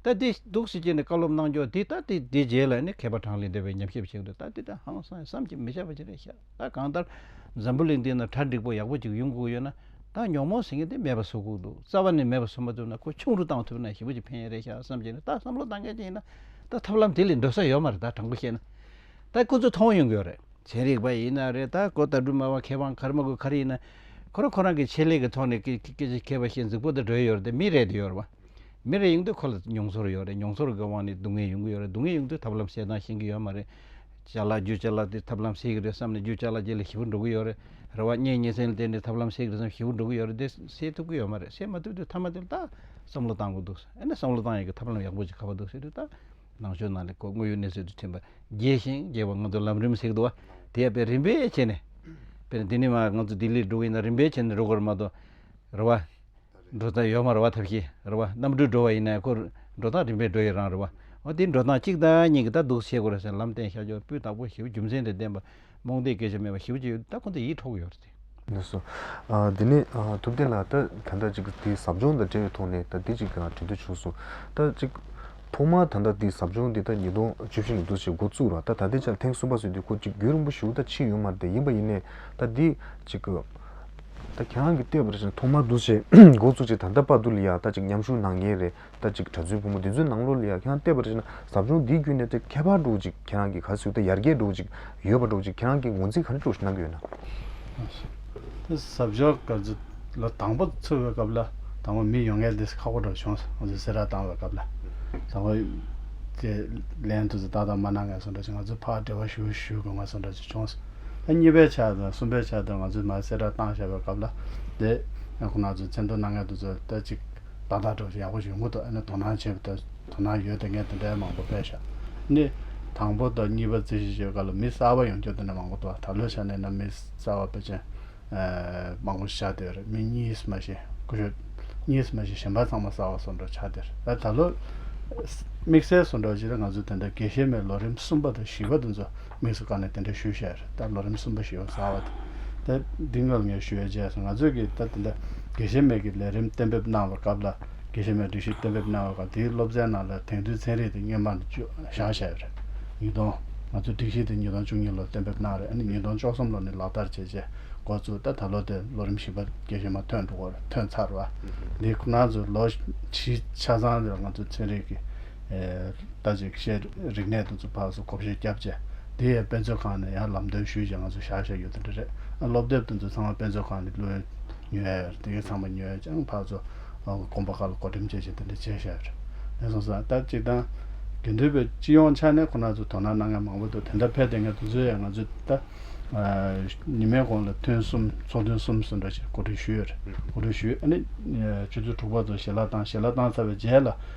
ད་འདི་འདུག་ཟེར་གྱི་ནས་བཀའ་སློབ་གནང་རྒྱུ་འདི་ད་འདི་འདི་རྗེས་ལ་ནི་མཁས་པ་གྲངས་ལས་འདས་པའི་ཉམས་ཞིབ་བྱེད་གི་འདུག་ད་འདི་ད་ཧང་སངས་སམ་གྱིས་མི་བྱ་བ་ཅི་རེད་ཤག། ད་གང་ལྟར་འཛམ་བུ་གླིང་འདི་ན་གྲ་འགྲིག་པོ་ཡག་པོ་ཅིག་ཡོང་གི་ཡོད་ན། ད་ཉོག་མོ་ཟེར་མཁན་དེ་མེད་པ་བཟོ་དགོས་འདུག་རྩ་བ་ནས་མེད་པ་བཟོ་མ་ཐུབ་ན་ཁོ་ཆུང་རུ་བཏང་ཐུབ་ན་ཞེ་པོ་ཅིག་ཕན་ཡོན་རེད་ཤག་བསམ་གྱི་ནས་ད་བསམ་བློ་གཏང་མཁན་ཅིག་ཡིན་ན། ད་ཐབས་ལམ་དེ་ལས་འགྲོ་ས་ཡོད་མ་རེད་ད་དྲང་པོ་བཤད་ན། ད་ཁོ་ཚོས་མཐོང་ཡོང་གི་ཡོད་རེད། ཚན་རིག་པ་ཡིན་ན་རེད་ད་གོ་ད་སྦྲུམ་མ་བ་ཁེ་བང་གར་མ་དགོས་གར་ཡིན་ན། ཁོ་རང་ཁོ་རང་གི་ཆེད་ལས་ཀྱི་ཐོག་ནས་སྐད་ཆ་མཁས་པ་ཤེས་འཛིག་པོ་དེ་འགྲོ་ཡི་ཡོད་རེད་ད་མི་རེད་དེ་ཡོད་རེད་བ། མི་རེ་ཡོང་དུས་ཁོ་ལ་མྱོང་ཚོར་ཡོད་རེད་མྱོང་ཚོར་གི་དབང་ནས་སྡུག་བསྔལ་ཡོང་གི་ཡོད་རེད་སྡུག་བསྔལ་ཡོང་དུས་ཐབས་ལམ་བཤད་སྟངས་ཤེས་ཀྱི་ཡོད་མ་རེད། བྱ་ལ་རྒྱུ་བྱ་ལ་དེ་ཐབས་ལམ་བྱེད་ཀྱི་རེད་བསམ་ནས་རྒྱུ་བྱ་ལ་རྒྱུ་ལ་ཞིབ་པོ་འགྲོ་གི་ཡོད་རེད་རེད་བ་གཉེན་ཉེ་ཚན་ལ་བལྟས་ནས་ཐབས་ལམ་བྱེད་ཀྱི་རེད་བསམ་ཞིབ་པོ་འགྲོ་གི་ཡོད་རེད་དེ་བྱེད་ཐུབ་ཀྱི་ཡོད་མ་རེད་བྱེད་མ་ཐུབ་དུས་མཐའ་མ་དེ་ལ་ད་བསམ་བློ་གཏང་དགོས་འདུག་ཨ་ནི་བསམ་བློ་གཏང་ཡོད་ཀྱི་ཐབས་ལམ་ཡག་པོ་ཅིག་ག་པ་འདུག་ཟེར་དུས་ད་ནང་ཆོས་ནང་ལས་ཁོ་དངོས་ཡོད་གནས་ཚུལ་དུ་ཐིམ་པ་རྒྱས་ཤིང་རྒྱས་པ་ང་ཚོ་ལམ་རིམ་ཞིག་ཏུ་བ་དེ་ཡང་དཔེ་རིམ་པས་བྱས་ནས་དཔེར་ན་འདི་ནས་མ་ང་ཚོ་ལྡི་ལིར་འགྲོ་གི་ཡིན་ན་རིམ་པས་བྱས་ནས་འགྲོ་དགོས་རེད་མ་གཏོགས་རེད་བ། འགྲོ་སྟངས་ཡོད་མ་རེད་བ་ཐབས་ཤེས་རེད་བ་གནམ་གྲུས་འགྲོ་བ་ཡིན་ནའི་འཁོར་འགྲོ་སྟངས་རིམ་པས་འགྲོ་ཡི་རང་རེད་བ། འོ་དེ་འགྲོ་སྟངས་གཅིག་དང་གཉིས་ཀྱི་ད་འདུག་བྱེད་དགོས་རེད་ཟེར་ལམ་སྟེང་ཤར་ཕྱོགས་སྤུས་དག་པོ་ཞིག་རྒྱུ་མཚན་དེ་བདེན་པ་རྨོངས་དད་སྐད་ཆ་མེད་པ་ཞིག་བརྗོད་ཡོད་ད་ཁོང་ཚོ་ཡིད་འཕྲོག་གི་ཡོད་རེད། ནས་སོ། དེ་ནས་ཐུབ་བསྟན་ལགས་ད་ད་ལྟ་ཅིག་དེ་ཟབ་སྦྱོང་དང་འབྲེལ་བའི་ཐོག་ནས་ད་དེ་ཅིག་དྲན་ཐོས་བྱུང་སོང། ད་ཅིག། ཐོག་མར་ད་ལྟ་དེ་ཟབ་སྦྱོང་དེ་ད་ཉིས་སྟོང་བཅུ་བཞི་ཉིན་ཏུ་ཞིག་འགོ་བཙུགས་ར་ད་ད་ལྟའི་ཆར་ཐེངས་གསུམ་པ་སོས་དུས་ཁོ་གཅིག་རྒྱུད་རིང་པོ་ཞིག་ད་ཕྱིན་ཡོད་མ་རེད་ཡིན་པ་ཡིན་ནའི་ད་དེ་ཅིག། ད་གྱ་གང་གི་ལྟོས་པར་ཞིག་ཐོག་མར་འདུ་བྱེད་འགོ་བཙུགས་ཅིག་ད་ལྟ་པར་དུ་ལ་ཡག་ད་ཅིག་མཉམ་ཞུགས་གནང་ཉེན་རེད་ད་ཅིག་གྲྭ་བཙུན་ཕོ་མོ་འདི་ཚོའི་ནང་ལོ་ལ་ཡག་གྱ་གང་ལྟོས་པར་ཞིག་ན་ཟབ་སྦྱོང་འདིའི་བརྒྱུད་ནས་ད་ཁྱད་པར་འགྲོ་ཅིག་ཁྱེད་རང་གི་ག་ཟིག་ད་ཡར་རྒྱས་འགྲོ་ཅིག་ཡོད་པ་འགྲོ་ཅིག་ཁྱེད་རང་གི་ངོ་འཛིན་ག་འདྲ་འགྲོ་ཞིག་གནང་གི་ཡོད་ན། ཟབ་སྦྱོང་ག་ཚོད་ལོ་དང་པོ་ཚུགས་པའི་སྐབས་ལ་དང་པོ་མི་ཡོང་ངེས་འདི་ཁག་པོ་འགྲོ་བྱུང་ཟེར་ཟེར་ར་བཏང་བའི་སྐབས་ལ་དང་པོ་དེ་ལན་དུ་ཟེར་ད་ད་མ་གནང་ངེས་ཟེར་འགྲོ་ཅིག་ང་ཚོས་ཕར་འབྲེལ་བ་ཞུ་ཞུ་དགོས་ངེས་ཟེར་འགྲོ་ཅིག་བྱུང། ད་གཉིས་པའི་ཆ་དང་གསུམ་པའི་ཆ་དེར་ང་ཚོས་མར་གསལ་བསྒྲགས་བཏང་བཞག་པའི་སྐབས་ལ། དེ་ཁོ་ན་ཚོས་མཚན་མཐོང་སྣ་ངད་དུ་བཟོས་ལྟ་ཅི། བདག་དང་གྲོགས་ཞེས་ཡག་པོ་ཞིག་ཡོང་གི་འདུག་ཨ་ནི་དོ་སྣང་བྱེད་དུ་དོ་སྣང་ཡོད་དེ་ངས་དེ་འདྲའི་མང་པོ་སྤེལ་བཞག་ནི། དང་པོ་དང་གཉིས་པ་རྩིས་གཞི་བྱེད་སྐབས་ལ་མི་གསར་བ་ཡོང་རྒྱུར་དེ་འདྲ་མང་པོ་འདུག་ད་ལོའི་ཆ་ནས་ན་མི་གསར་བ་པེ་ཅན། མང་པོ་ཆགས་བསྡད་རེད་མི་གཉིས་མ་བཞི་དགུ་ཡོད། གཉིས་མ་བཞི་གཞན་པ་ཚང་མ་གསར་བ་སོ་འགྲོ་ཆགས་བསྡད་རེད་ད་ད་ལོ། དམིགས་བསལ་སོ་འགྲོ་བྱེད་ན་ང་ཚོས་དེ་འདྲ་དགེ་བཤེས་མའི་ལོ་རིམ་གསུམ་པ་དང་བཞི་པ་དེ་ཚོ། དམིགས་སུ་བཀར་ནས་དེ་འདྲའི་ཞུ་བཤད་རེ་ད་ལོ་རིམ་གསུམ་པ་ཞིག་ཡོང་ཟ་བ་དེ། འདི་སྔོན་ངས་ཞུ་བའི་རྗེས་སུ་ང་ཚོས་ཀྱིས་ད་དེ་འདྲ་དགེ་བཤེས་མེད་ཀྱི་ལས་རིམ་གཏན་འབེབས་གནང་བའི་སྐབས་ལ་དགེ་བཤེས་མའི་སྒྲིག་གཞི་གཏན་འབེབས་གནང་བའི་སྐབས་དེའི་སློབ་ཚན་ནང་ལ་དེང་དུས་ཚན་རིག་དེ་སྙེ་མ་ནས་བཅུ་བཞག་བཤད་ཡོད་རེད། ཉིས་སྟོང། ང་ཚོས་སྒྲིག་གཞི་དེ་ཉིས་སྟོང་བཅུ་གཉིས་ལོར་གཏན་འབེབས་གནང་རེད་ཨ་ནི་ཉིས་སྟོང་བཅོ་གསུམ་ལོ་ནས་ལག་བསྟར་བྱེད་ཆེད་འགོ་བཙུགས་ད་ད་ལོ་དེ་ལོ་རིམ་བཞི་པ་དགེ་བཤེས་མ་ཐོན་འགྲོ་འོར་ཐོན་ཚར་བ། འདི་ཁོ་ང་ཚོས་ལོ་བཞི་ཆ་ཚང་རེར་ང་ཚོས་ཚན་རིག་གི། ལྟ་ཅིག་ཤེས་རིག་གནས་དུ་ཚུད་འཕགས་སུ་གོ་བཞེས་སྐྱབས་རྗེ། འདི་ཡང་དཔེ་མཛོད་ཁང་ནས་ཡང་ལམ་སྟོན་ཞུས་རྗེས་ང་ཚོ་ཞག་ཞག་ཡོད་དོ་འདྲི་རེད། སློབ་དེབ་དེ་ཚོ་ཚང་མ་དཔེ་མཛོད་ཁང་ནས་བློས་ཉོས། དེ་གའི་ཚང་མ་ཉོས་ཀྱང་འཕགས་སུ་དགོངས་པ་ཁ་ལ་གོ་དྲིམ་བྱེད་བཞིན་དེ་འདྲའི་བྱས་ཞག་ཡོད་རེད། ངས་སོང་ཙང་ལྟ་ཅིག་དང། དགེ་འདུན་པའི་སྤྱི་ཡོངས་ཆ་ནས་ཁོ་ན་ཚོ་དོ་སྣང་གནང་མཁན་མང་པོ་འདུག་དེ་འདྲ་ཕལ་དེ་ངས་དེ་ཚོའི་ཡང་ང་ཚོའི་ལྟ། ཉི་མའི་གོང་ལ་ཐུན་གསུམ་ཚོགས་ཐུན་གསུམ་ཟིན་འགྲོ་ཞེས་གོ་སྒྲིག་ཞུས་ཡོད་རེད། གོ་སྒྲིག་ཞུས་ཨ་ནི། ཆུ་ཚོད་དྲུག་པ་ཚོ་ཞལ་ལག་བཏང་ཞལ་ལག་བཏང་ཚར་བའི་རྗེས་ལ།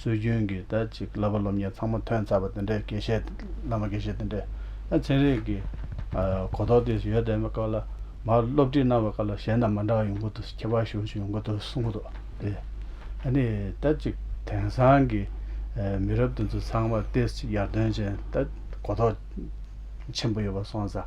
སྲོལ་རྒྱུན་གྱི་ད་ཅིག་བསླབ་པ་སློབ་གཉེར་ཚང་མ་ཐོན་ཚར་བ་དེ་འདྲའི་དགེ་བཤེས་བླ་མ་དགེ་བཤེས་དེ་འདྲས་ཨ་ཚན་རིགས་ཀྱི་གོ་རྟོགས་དེ་ཡོད་བསྡད་པའི་སྐབས་ལ་མར་སློབ་ཁྲིད་གནང་བའི་སྐབས་ལ་གཞན་དང་མ་འདྲ་བ་ཡོང་གི་འདུག་ཁྱད་པར་ཞུ་བ་ཞིག་ཡོང་གི་འདུག་གསུང་གི་འདུག་དེ་ཨ་ནི་ད་ཅིག་དེང་སང་གི་མི་རབས་དེ་ཚོ་ཚང་མར་ཏེ་ཡར་ཐོན་ཅན་ད་གོ་རྟོགས་ཆེན་པོ་ཡོད་པ་སོང་ཙང།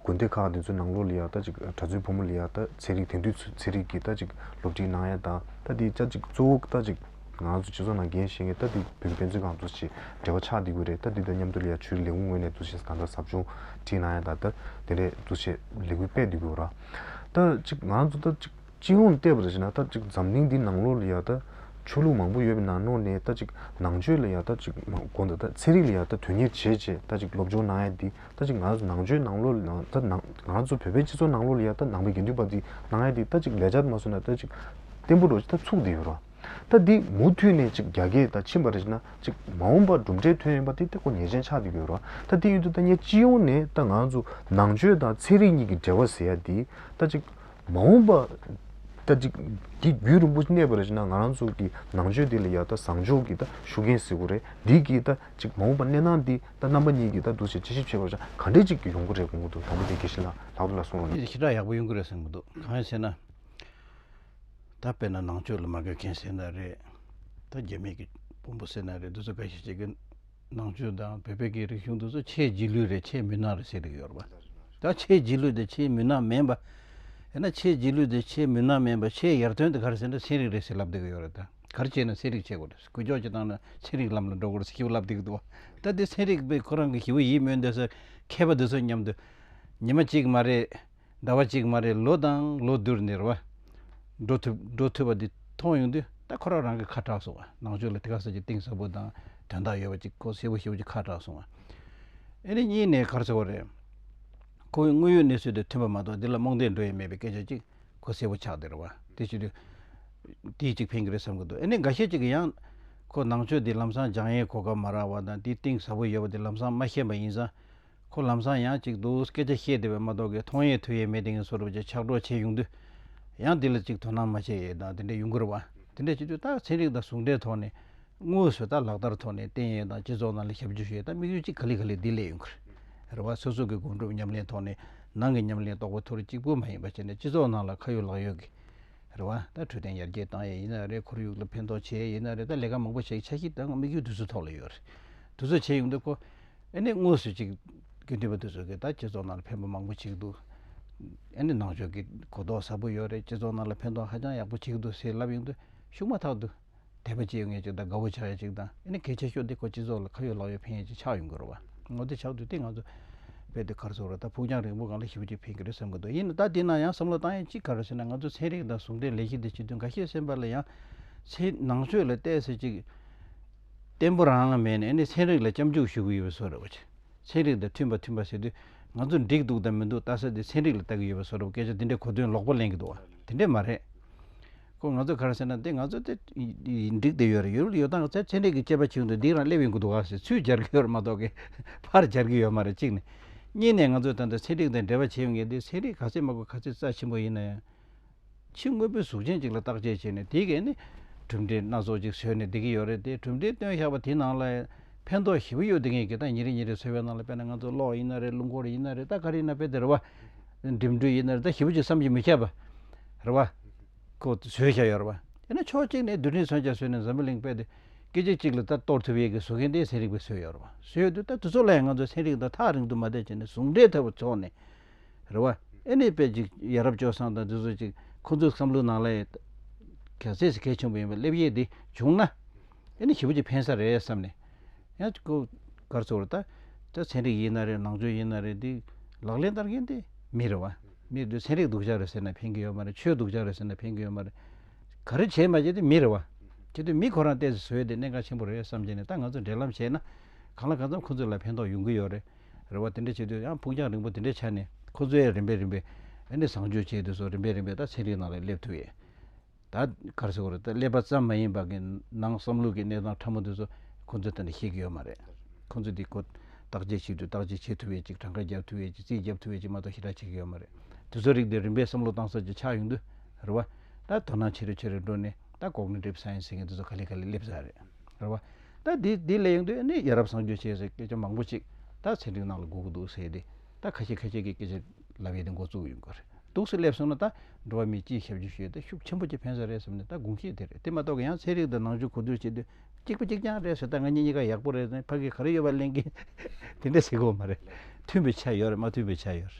དགོན་སྡེ་ཁག་དེ་ཚོའི་ནང་ལོ་ལི་ཡག་ད་ཅིག་གྲྭ་བཙུན་བུ་མོ་ལི་ཡག་ད་ཚན་རིག་དེང་དུས་ཚན་རིག་གི་ད་ཅིག་སློབ་ཁྲིད་གནང་ཡས་དང་ད་དེའི་ཅག་ཅིག་གཙོ་བོ་ད་ཅིག་ང་ཚོ་སྤྱི་ཚོགས་ནང་འགན་བཞེས་མཁན་ད་དེ་བུད་མེད་ཕན་ཚུན་གང་ཚོ་ཞིག་འབྲེལ་བ་ཆགས་འདི་དགོས་རེད་ད་དེ་དང་མཉམ་དུ་ལི་ཡག་ཆུའི་ལས་ཁུངས་ངོས་ནས་འདུ་ཤེས་གང་འདྲ་ཟབ་ཆུང་ཁྲིད་གནང་ཡས་དང་ད་དེ་འདྲའི་འདུ་ཤེས་ལས་འགུལ་སྤེལ་འདི་དགོས་ར་ད་ཅིག་ང་ཚོ་ད་ཅིག། སྤྱི་ཡོངས་བལྟས་པར་བྱས་ན་ད་ཅིག་འཛམ་གླིང་འདིའི་ནང་ལོགས་ལ་ཡག་ལྟ་ཆོས་ལུགས་མང་པོ་ཡོད་པའི་ནང་ནོར་ནས་ད་ཅིག་ནང་ཆོས་ལ་ཡག་ལྟ་ཅིག་གོ་འདོད་ད་ཚེ་རིག་ལ་ཡག་ལྟ་དོན་གཉེར་བྱས་བྱས་ད་ཅིག་སློབ་སྦྱོང་གནང་ཡ་འདི་ད་ཅིག་ང་ཚོ་ནང་ཆོས་ནང་ལོགས་ལ་ཡག་ལྟ་ང་ཚོ་བོད་པའི་སྤྱི་ཚོགས་ནང་ལོགས་ལ་ཡག་ལྟ་ནང་པའི་དགེ་འདུན་པ་འདི་གནང་ཡ་འདི་ད་ཅིག་ལས་བྱ་མ་བཟོ་ན་ད་ཅིག་བརྟན་པོ་འགྲོ་ཅིག་ད་ཚུགས་འདི་ཡོད་རོགས་ད་འདི་མུ་མཐུད་ནས་ཅིག་རྒྱ་སྐད་ད་ཕྱིན་པར་བྱས་ན་ཅིག་མ་འོངས་པར་གྲུབ་འབྲས་ཐོན་ཡོང་པ་འདི་ད་གོ་ཉེས་ཅན་ཆགས་འདི་ཡོད་རོགས་ད་འདི་ཡོད་འདི་ད་ངས་སྤྱི་ཡོངས་ནས་ད་ང་ཚོ་ནང་ཆོས་དང་ཚེ་རིག་གཉིས་ཀྱི་འབྲེལ་བ་ཟེར་ཡ་འདི་ད་ཅིག་མ་འོངས་པ་ལྟ་ཅི། འདི་རྒྱུད་རིན་པོ་ཆེ་གནས་པ་རེད་ཅེ་ན་ང་རང་ཚོ་གི་ནང་ཆོས་འདི་ལ་ཡག་ད་བཟང་ཕྱོགས་ཀྱི་ད་ཤུགས་རྐྱེན་ཟེར་བོ་རེད་འདི་གི་ད་ཅིག་མ་འོངས་པ་གནས་སྟངས་འདི་ད་རྣམ་པ་གཉིས་ཀྱི་ད་འདུ་བྱེད་དཔྱད་ཞིབ་བྱེད་པར་ཆ་ག་འདྲས་ཅིག་ཡོང་གི་རེད་གོང་གི་འདུག་དང་པོ་དེ་དགེ་བཤེས་ལགས་ལགས་ལ་གསུངས་རོགས་གནང། ཞེ་དྲག་ཡག་པོ་ཡོང་གི་རེད་གསུངས་གི་འདུག་གང་ཡིན་ཟེར་ན། ད་དཔེར་ན་ནང་ཆོས་ལ་མ་དགའ་མཁན་ཟེར་ན་རེད་ད་རྒྱ་མིས་ཀྱི་དཔོན་པོ་ཟེར་ན་རེད་འདི་ཚོ་དགའ་ཞིག་བྱེད་ཀྱི། ནང་ཆོས་དང་བོད་པའི་རིག་གཞུང་དུ་ཆེས་རྗེས་ལུས་རེད་ཆེས་མུན་ནག་རེད་ཟེར་ཡོད་པ། ད་ཆེས་རྗེས་ལུས་དང་ཆེས་མུན་ནག་མིན་པ། ཡིན་ན་ཆེས་རྗེས་ལུས་དང་ཆེས་མུན་ནག་མིན་པ་ཆེས་ཡར་ཐོན་དེ་ག་རེ་ཟེར་ན་ཚན་རིག་རེད་ཟེར་ལབ་སྡོད་ཀྱི་ཡོད་རེད་ད། ག་རེ་བྱས་ན་ཚན་རིག་བྱེད་དགོས་རེད་གུས་ལྕོག་བྱེད་སྟངས་ནི་ཚན་རིག་ལམ་ལ་འགྲོ་དགོས་རེད་ཟེར་ཞེས་ལབ་སྡོད་ཀྱི་འདུག་བ། ད་དེ་ཚན་རིག་པས་ཁོ་རང་གི་ཞི་བ་ཡིད་སྨོན་འདོད་སར་མཁས་པ་འདུག་ས་སྙམ་དུ། ཉི་མ་གཅིག་མ་རེད། ཟླ་བ་གཅིག་མ་རེད་ལོ་དང་ལོ་བསྡུར་ནས་རེད་བ། འགྲོ་ཐུབ་འགྲོ་ཐུབ་བ་འདི་མཐོང་ཡོང་དུས་ད་ཁོ་རང་རང་གི་ཁ་གྲགས་སོང་བ་ནང་ཆོས་ལ་དེ་ག་ཟེར་གྱི་གཏིང་ཟབ་པོ་དང་དོན་དག་ཡོད་པ་ཅིག་ཁོ་ཤེས་པོ་ཤེས་པོ་ཅིག་ཁ་གྲགས་སོང་བ། ཨེ་རེད་གཉིས་ནས་གར་ཆགས་པ་རེད། ཁོ་བོའི་དངོས་ཡོད་གནས་ཚུལ་དང་མཐུན་པ་མ་གཏོགས་འདི་ལ་རྨོངས་དད་འགྲོ་ཡི་མེད་པའི་སྐད་ཆ་ཅིག་ཁོ་ཤེས་པོ་ཆགས་འདི་རེད་བ། དེ་ཕྱིར། དེའི་ཅིག་ཕན་གྱི་རེད་བསམ་གྱི་འདུག་ཨེ་ནས་འགའ་ཤས་ཅིག་གིས་ཡང། ཁོ་ནང་ཆོས་འདི་ལམ་སང་སྦྱང་ཡས་གོ་སྐབས་མ་རག་བ་དང་དེའི་གཏིང་ཟབ་པོ་ཡོད་པ་དེ་ལམ་སང་མ་ཤེས་པ་ཡིན་ཙང། ཁོ་ལམ་སང་ཡང་ཅིག་ཏུ་སྐད་ཆ་བཤད་བསྡད་པས་མ་གཏོགས་ཀི་ཐོང་ཡས་ཐུ་ཡས་མེད་དེ་ངས་སོ་རུབ་ཅིག་ཕྱག་གྲོགས་བྱས་ཡོང་དུས། ཡང་འདི་ལ་ཅིག་དོ་སྣང་མ་བྱས་ཡས་དང་དེ་འདྲས་ཡོང་གི་རུ་བ། དེ་འདྲས་བྱེད་དུས་རྟགས་ཚན་རིག་དང་ཟུང་འབྲེལ་ཐོག་ནས། དངོས་སུ་ད་ལག་བསྟར་ཐོག་ནས་བསྟན་ཡས་དང་སྤྱི་ཚོགས་ནང་ལ་ཞབས་ཇུས་ཞུ་ཡས་དང་དམིགས་ཡུལ་ཅིག་ག་ལི་ག་ལི་འདི་ལས་ཡོང་གི་རུ་བ་སོ་སོ་གི་དགོངས་གྲུབ་ཉམས་ལེན་ཐོག་ནས་ནང་གི་ཉམས་ལེན་རྟོགས་པ་ཐུ་རུ་གཅིག་པུ་མ་ཡིན་པ་བྱས་ནས་སྤྱི་ཚོགས་ནང་ལ་ཁ་ཡོད་ལག་ཡོད་གི་རུ་བ། ད་འཕྲོད་བསྟེན་ཡར་རྒྱས་བཏང་ཡས་ཡིན་ན་རེད་ཁོར་ཡུག་ལ་ཕན་ཐོགས་བྱས་ཡས་ཡིན་ན་རེད་ད་ལས་ཀ་མང་པོ་བྱས་ཀི་ཆ་ཤིག་ད་དམིགས་ཡུལ་དུས་ཚོད་ཐོག་ལ་ཡོད་རེད། དུས་ཚོད་བྱས་ཡོང་དུས་ཁོ། ཨེ་ནས་དངོས་སུ་ཅིག་དགེ་འདུན་པ་འདི་ཚོ་གིས་ད་སྤྱི་ཚོགས་ནང་ལ་ཕན་པ་མང་པོ་བྱེད་ཀྱི་འདུག་ཨེ་ནས་ནང་ཆོས་ཀྱི་གོ་རྟོགས་ཟབ་པོ་ཡོད་རེད་སྤྱི་ཚོགས་ནང་ལ་ཕན་ཐོགས་ཧ་ཅང་ཡག་པོ་བྱེད་ཀྱི་འདུག་ཟེར་ལབ་ཡོང་དུས་ཤུགས་མ་ཐག་ཏུ། དད་པ་བྱེད་ཡོང་ངེས་ཅིག་དང་དགའ་བོ་ཆགས་ཡོད་ཅིག་དང་ཨེ་ནས་གལ་ཆེ་ཤོས་འདི་ཁོ་སྤྱི་ཚོགས་ལ་ཁ་ཡོད་ལག་ཡོད་ཕན་ཡོད་ཅིག་ཆགས་ཡོང་གི་རེད་བ། ངོ་དེ་ཆགས་དུས་དེ་ང་ཚོ་རྦད་དེ་གར་སོང་རེད་ད་ཕུགས་རྒྱང་རིང་པོ་གང་ལ་ཞིབ་ཅིག་ཕན་གྱི་རེད་བསམ་གྱི་འདུག་ཡིན་ནའི་ད་དེ་ན་ཡང་བསམ་བློ་བཏང་ཡས་ཅིག་ག་རེ་ཟེར་ན་ང་ཚོ་ཚན་རིག་དང་ཟུང་འབྲེལ་ལས་གཞི་འདི་བྱེད་དུས་འགའ་ཤས་སེམས་པ་ལ་ཡང། ཚེ་ནང་ཆོས་ལ་བལྟས་ཟེར་ཅིག། བརྟན་པོ་རང་མེད་ནས་ནི་ཚན་རིག་ལ་སྐྱབས་འཇུག་ཞུ་གི་ཡོད་པ་བཟོ་རེད་བ། ཚན་རིག་དང་མཐུན་པ་མཐུན་པ་ཟེར་དུས། ང་ཚོ་འགྲིག་འདུག་དང་མི་འདུག་བལྟ་ས་དེ་ཚན་རིག་ལ་བལྟ་གི་ཡོད་པ་བཟོ་རེད་བ་སྐད་ཆ་དེ་འདྲའི་གོ་དོན་ལོག་པ་གླེང་གི་འདུག་བ་དེ་འདྲས་མ་རེད། ཁོ་ང་ཚོ་གར་ཟེར་ན་དེ་ང་ཚོ་དེ་འགྲིག་དེ་ཡོད་རེད་ཡོད་ཡོད་སྟངས་ཚན་རིག་གི་དཔྱད་པ་བྱེད་འདུག་འདིའི་རང་སླེབས་ཡོང་གི་འདུག་བ་ཟེར་ཚུལ་སྦྱར་གི་ཡོད་རེད་མ་གཏོགས་གི། ཕར་སྦྱར་གི་ཡོད་མ་རེད་གཅིག་ནས། གཉིས་ནས་ང་ཚོས་ད་ལྟ་ཚན་རིག་དང་འབྲེལ་བ་བྱེད་ཡོང་གི་འདི་ཚན་རིག་ག་ཚད་དམའ་གོ་ག་ཚད་རྩ་ཆེན་པོ་ཡིན་ན་ཡང། ཕྱི་དངོས་པོའི་གཟུགས་ཅན་ཅིག་ལ་བརྟག་དཔྱད་བྱས་ནས་དེའི་གན་ནས་གྲུབ་འབྲས་སྣ་ཚོགས་ཅིག་བཟོས་ནས་བསྡད་ཀྱི་ཡོད་རེད་དེ་གྲུབ་འབྲས་སྟོན་བཞག་པ་དེའི་ནང་ལ་ཕན་ཐོགས་ཞེ་བོ་ཡོད་བསྡད་མཁན་གྱི་ད་ཉིན་རེ་ཉིན་རེ་བཟོས་པའི་ནང་ལ་དཔེར་ན་ང་ཚོ་གློག་ཡིན་ན་རེད་རླུང་འཁོར་ཡིན་ན་རེད་ད་ག་རེ་ཡིན་ན་དཔེ་དེར་བ། འགྲིམ་འགྲུལ་ཡིན་ན་རེད་ད་ཞེ་བོ་ཅིག་བསམ་གྱི་མི་ཁྱབ་པ། རེད་བ། ཁོ་བཟོས་བཞག་ཡོད་རེད་བ། དེ་ནས་ཕྱོགས་གཅིག་ནས་བསྡུས་འཕྲིན་བཟོ་བྱ་བཟོས་ནས་འཛམ་བུ་གླིང་དཔལ་དེ་སྐད་ཅིག་གཅིག་ལ་ད་གཏོར་ཐུབ་ཡས་ཀྱི་བཟོ་མཁན་དེ་ཚན་རིག་པས་བཟོས་ཡོད་རེད་བ། བཟོས་ཡོད་དུས་ད་དུས་ཚོད་ལ་ཡང་ང་ཚོ་ཚན་རིག་དང་ཐག་རིང་དུ་མ་བསྡད་བྱས་ནས་ཟུང་འབྲེལ་ཐབས་བཙོག་ནས། རེ་བ་ཨེ་ནས་པེ་ཅིག་ཡ་རབས་སྐྱོ་སངས་དང་འདི་ཚོ་ཅིག་ཁོང་ཚོའི་བསམ་བློའི་ནང་ལ་ཡོད། གལ་སྲིད་ས་ཁལ་ཆེན་པོ་ཡིན་པའི་སླེབས་དབྱེ་འདི་བྱུང་ན། ཨེ་ནས་ཞི་བ་ཅིག་འཕེན་ས་རེད་བསམ་ནས། ཡང་ཅིག་ཁོ། གར་ཚོར་རེད་ད། ད་ཚན་རིག་ཡིན་ན་རེད་ནང་ཆོས་ཡིན་ན་རེད་འདི། ལག་ལེན་བསྟར་མཁན་དེ་མི་རེ་བ། མི་འདི་ཚན་རིག་སྡུག་ཅག་རེད་ཟེར་ན་འཕེན་གི་ཡོད་མ་རེད་ཆོས་སྡུག་ཅག་རེད་ཟེར་ན་འཕེན་གི་ཡོད་མ་རེད། ག་རེ་བྱེད་མ་བྱེད་དེ་མི་རེ་བ། གལ་ཏེ་མི་ཁོ་རང་བལྟས་ཚེ་བཟོས་དེ་གནད་འགག་ཆེན་པོ་རེད་བསམ་བྱས་ནས་ད་ང་ཚོ་འབྲེལ་ལམ་བྱས་ན། གང་ལ་གང་འཚམ་ཁོང་ཚོས་ལ་ཕན་ཐོགས་ཡོང་གི་ཡོད་རེད། རེ་བ་དེ་འདྲ་བྱེད་དུས་ཡང་ཕུགས་རྒྱང་རིང་པོ་དེ་འདྲའི་ཆ་ནས་ཁོ་ཚོའི་རིམ་པས་རིམ་པས་ཨ་ནི་བཟང་སྤྱོད་བྱས་དུས་སུ་རིམ་པས་རིམ་པས་ད་ཚན་རིག་ནང་ལ་སླེབས་ཐུབ་ཡས་ད་གར་སོ་ཀོར་ད་སླེབས་པ་ཙམ་མ་ཡིན་པ་གི་ནང་བསམ་བློ་གི་གནས་སྟངས་ཕྲ་མོ་དེ་ཚོ་ཁོ་ཚོས་ད་ནས་ཤེས་ཀྱི་ཡོད་མ་རེད། ཁོ་ཚོས་འདི་ཁོ་བརྟག་དཔྱད་བྱེད་དུས་བརྟག་དཔྱད་བྱེད་ཐུབ་ཡས་ཅིག་གྲངས་ཀ་བརྒྱབ་ཐུབ་ཡས་ཅིག་རྩིས་བརྒྱབ་ཐུབ་ཡས་ཅིག་མ་གཏོགས་ཞེ་དྲག་བྱེད་ཀྱི་ཡོད་མ་རེད། དེ་ཚོ་རིགས་དེ་རིམ་པས་བསམ་བློ་བཏང་ས་ཅིག་ཆགས་ཡོང་དུས་རེ་བ་ད་དོ་སྣང་ཆེ་རེ་ཆེ་རེ་འགྲོ་ནས་ད་གོག་ནས་འགྲིབ་ས་ཡིན་ཟེར་མཁན་དེ་ཚོ་ག་ལེ་ག་ལེ་སླེབས་ས་རེད་རེ་བ། ད་དེ་དེ་ལས་ཡོང་དུས་ནས་ཡ་རབས་སངས་རྒྱས་བྱས་ཟེར་སྐད་ཆ་མང་པོ་ཅིག་ད་ཚན་རིག་ནང་ལ་གོ་གི་འདུག་ཟེར་དེ་ད་ཁ་ཤས་ཁ་ཤས་ཀྱི་སྐད་ཆ་ལབ་ཡས་དེ་མགོ་བཙུགས་ཡོང་གི་རེད་འདུག་སེ་སླེབས་སོང་ན་ད་འགྲོ་བ་མིའི་སྤྱིའི་ཞབས་ཞུ་ཞུས་ཏེ་ཤུགས་ཆེན་པོ་ཅིག་ཕན་ས་རེད་བསམ་ནས་ད་དགོངས་གཞི་དེ་རེད་དེ་མ་གཏོགས་ཀྱི་ཡང་ཚན་རིག་དང་ནང་ཆོས་གོ་བསྡུར་བྱེད་དུས་གཅིག་པ་གཅིག་རྐྱང་རེད་ཟེར་ད་ང་གཉིས་གཉིས་ཀ་ཡག་པོ་རེད་ཟེར་ཕ་གིས་ག་རེ་ཡོད་པ་གླེང་གིན་དེ་འདྲས་ཟེར་དགོས་མ་རེད་མཐུན་པའི་ཆ་ཡོད་རེད་མ་མཐུན་པའི་ཆ་ཡོད་རེད།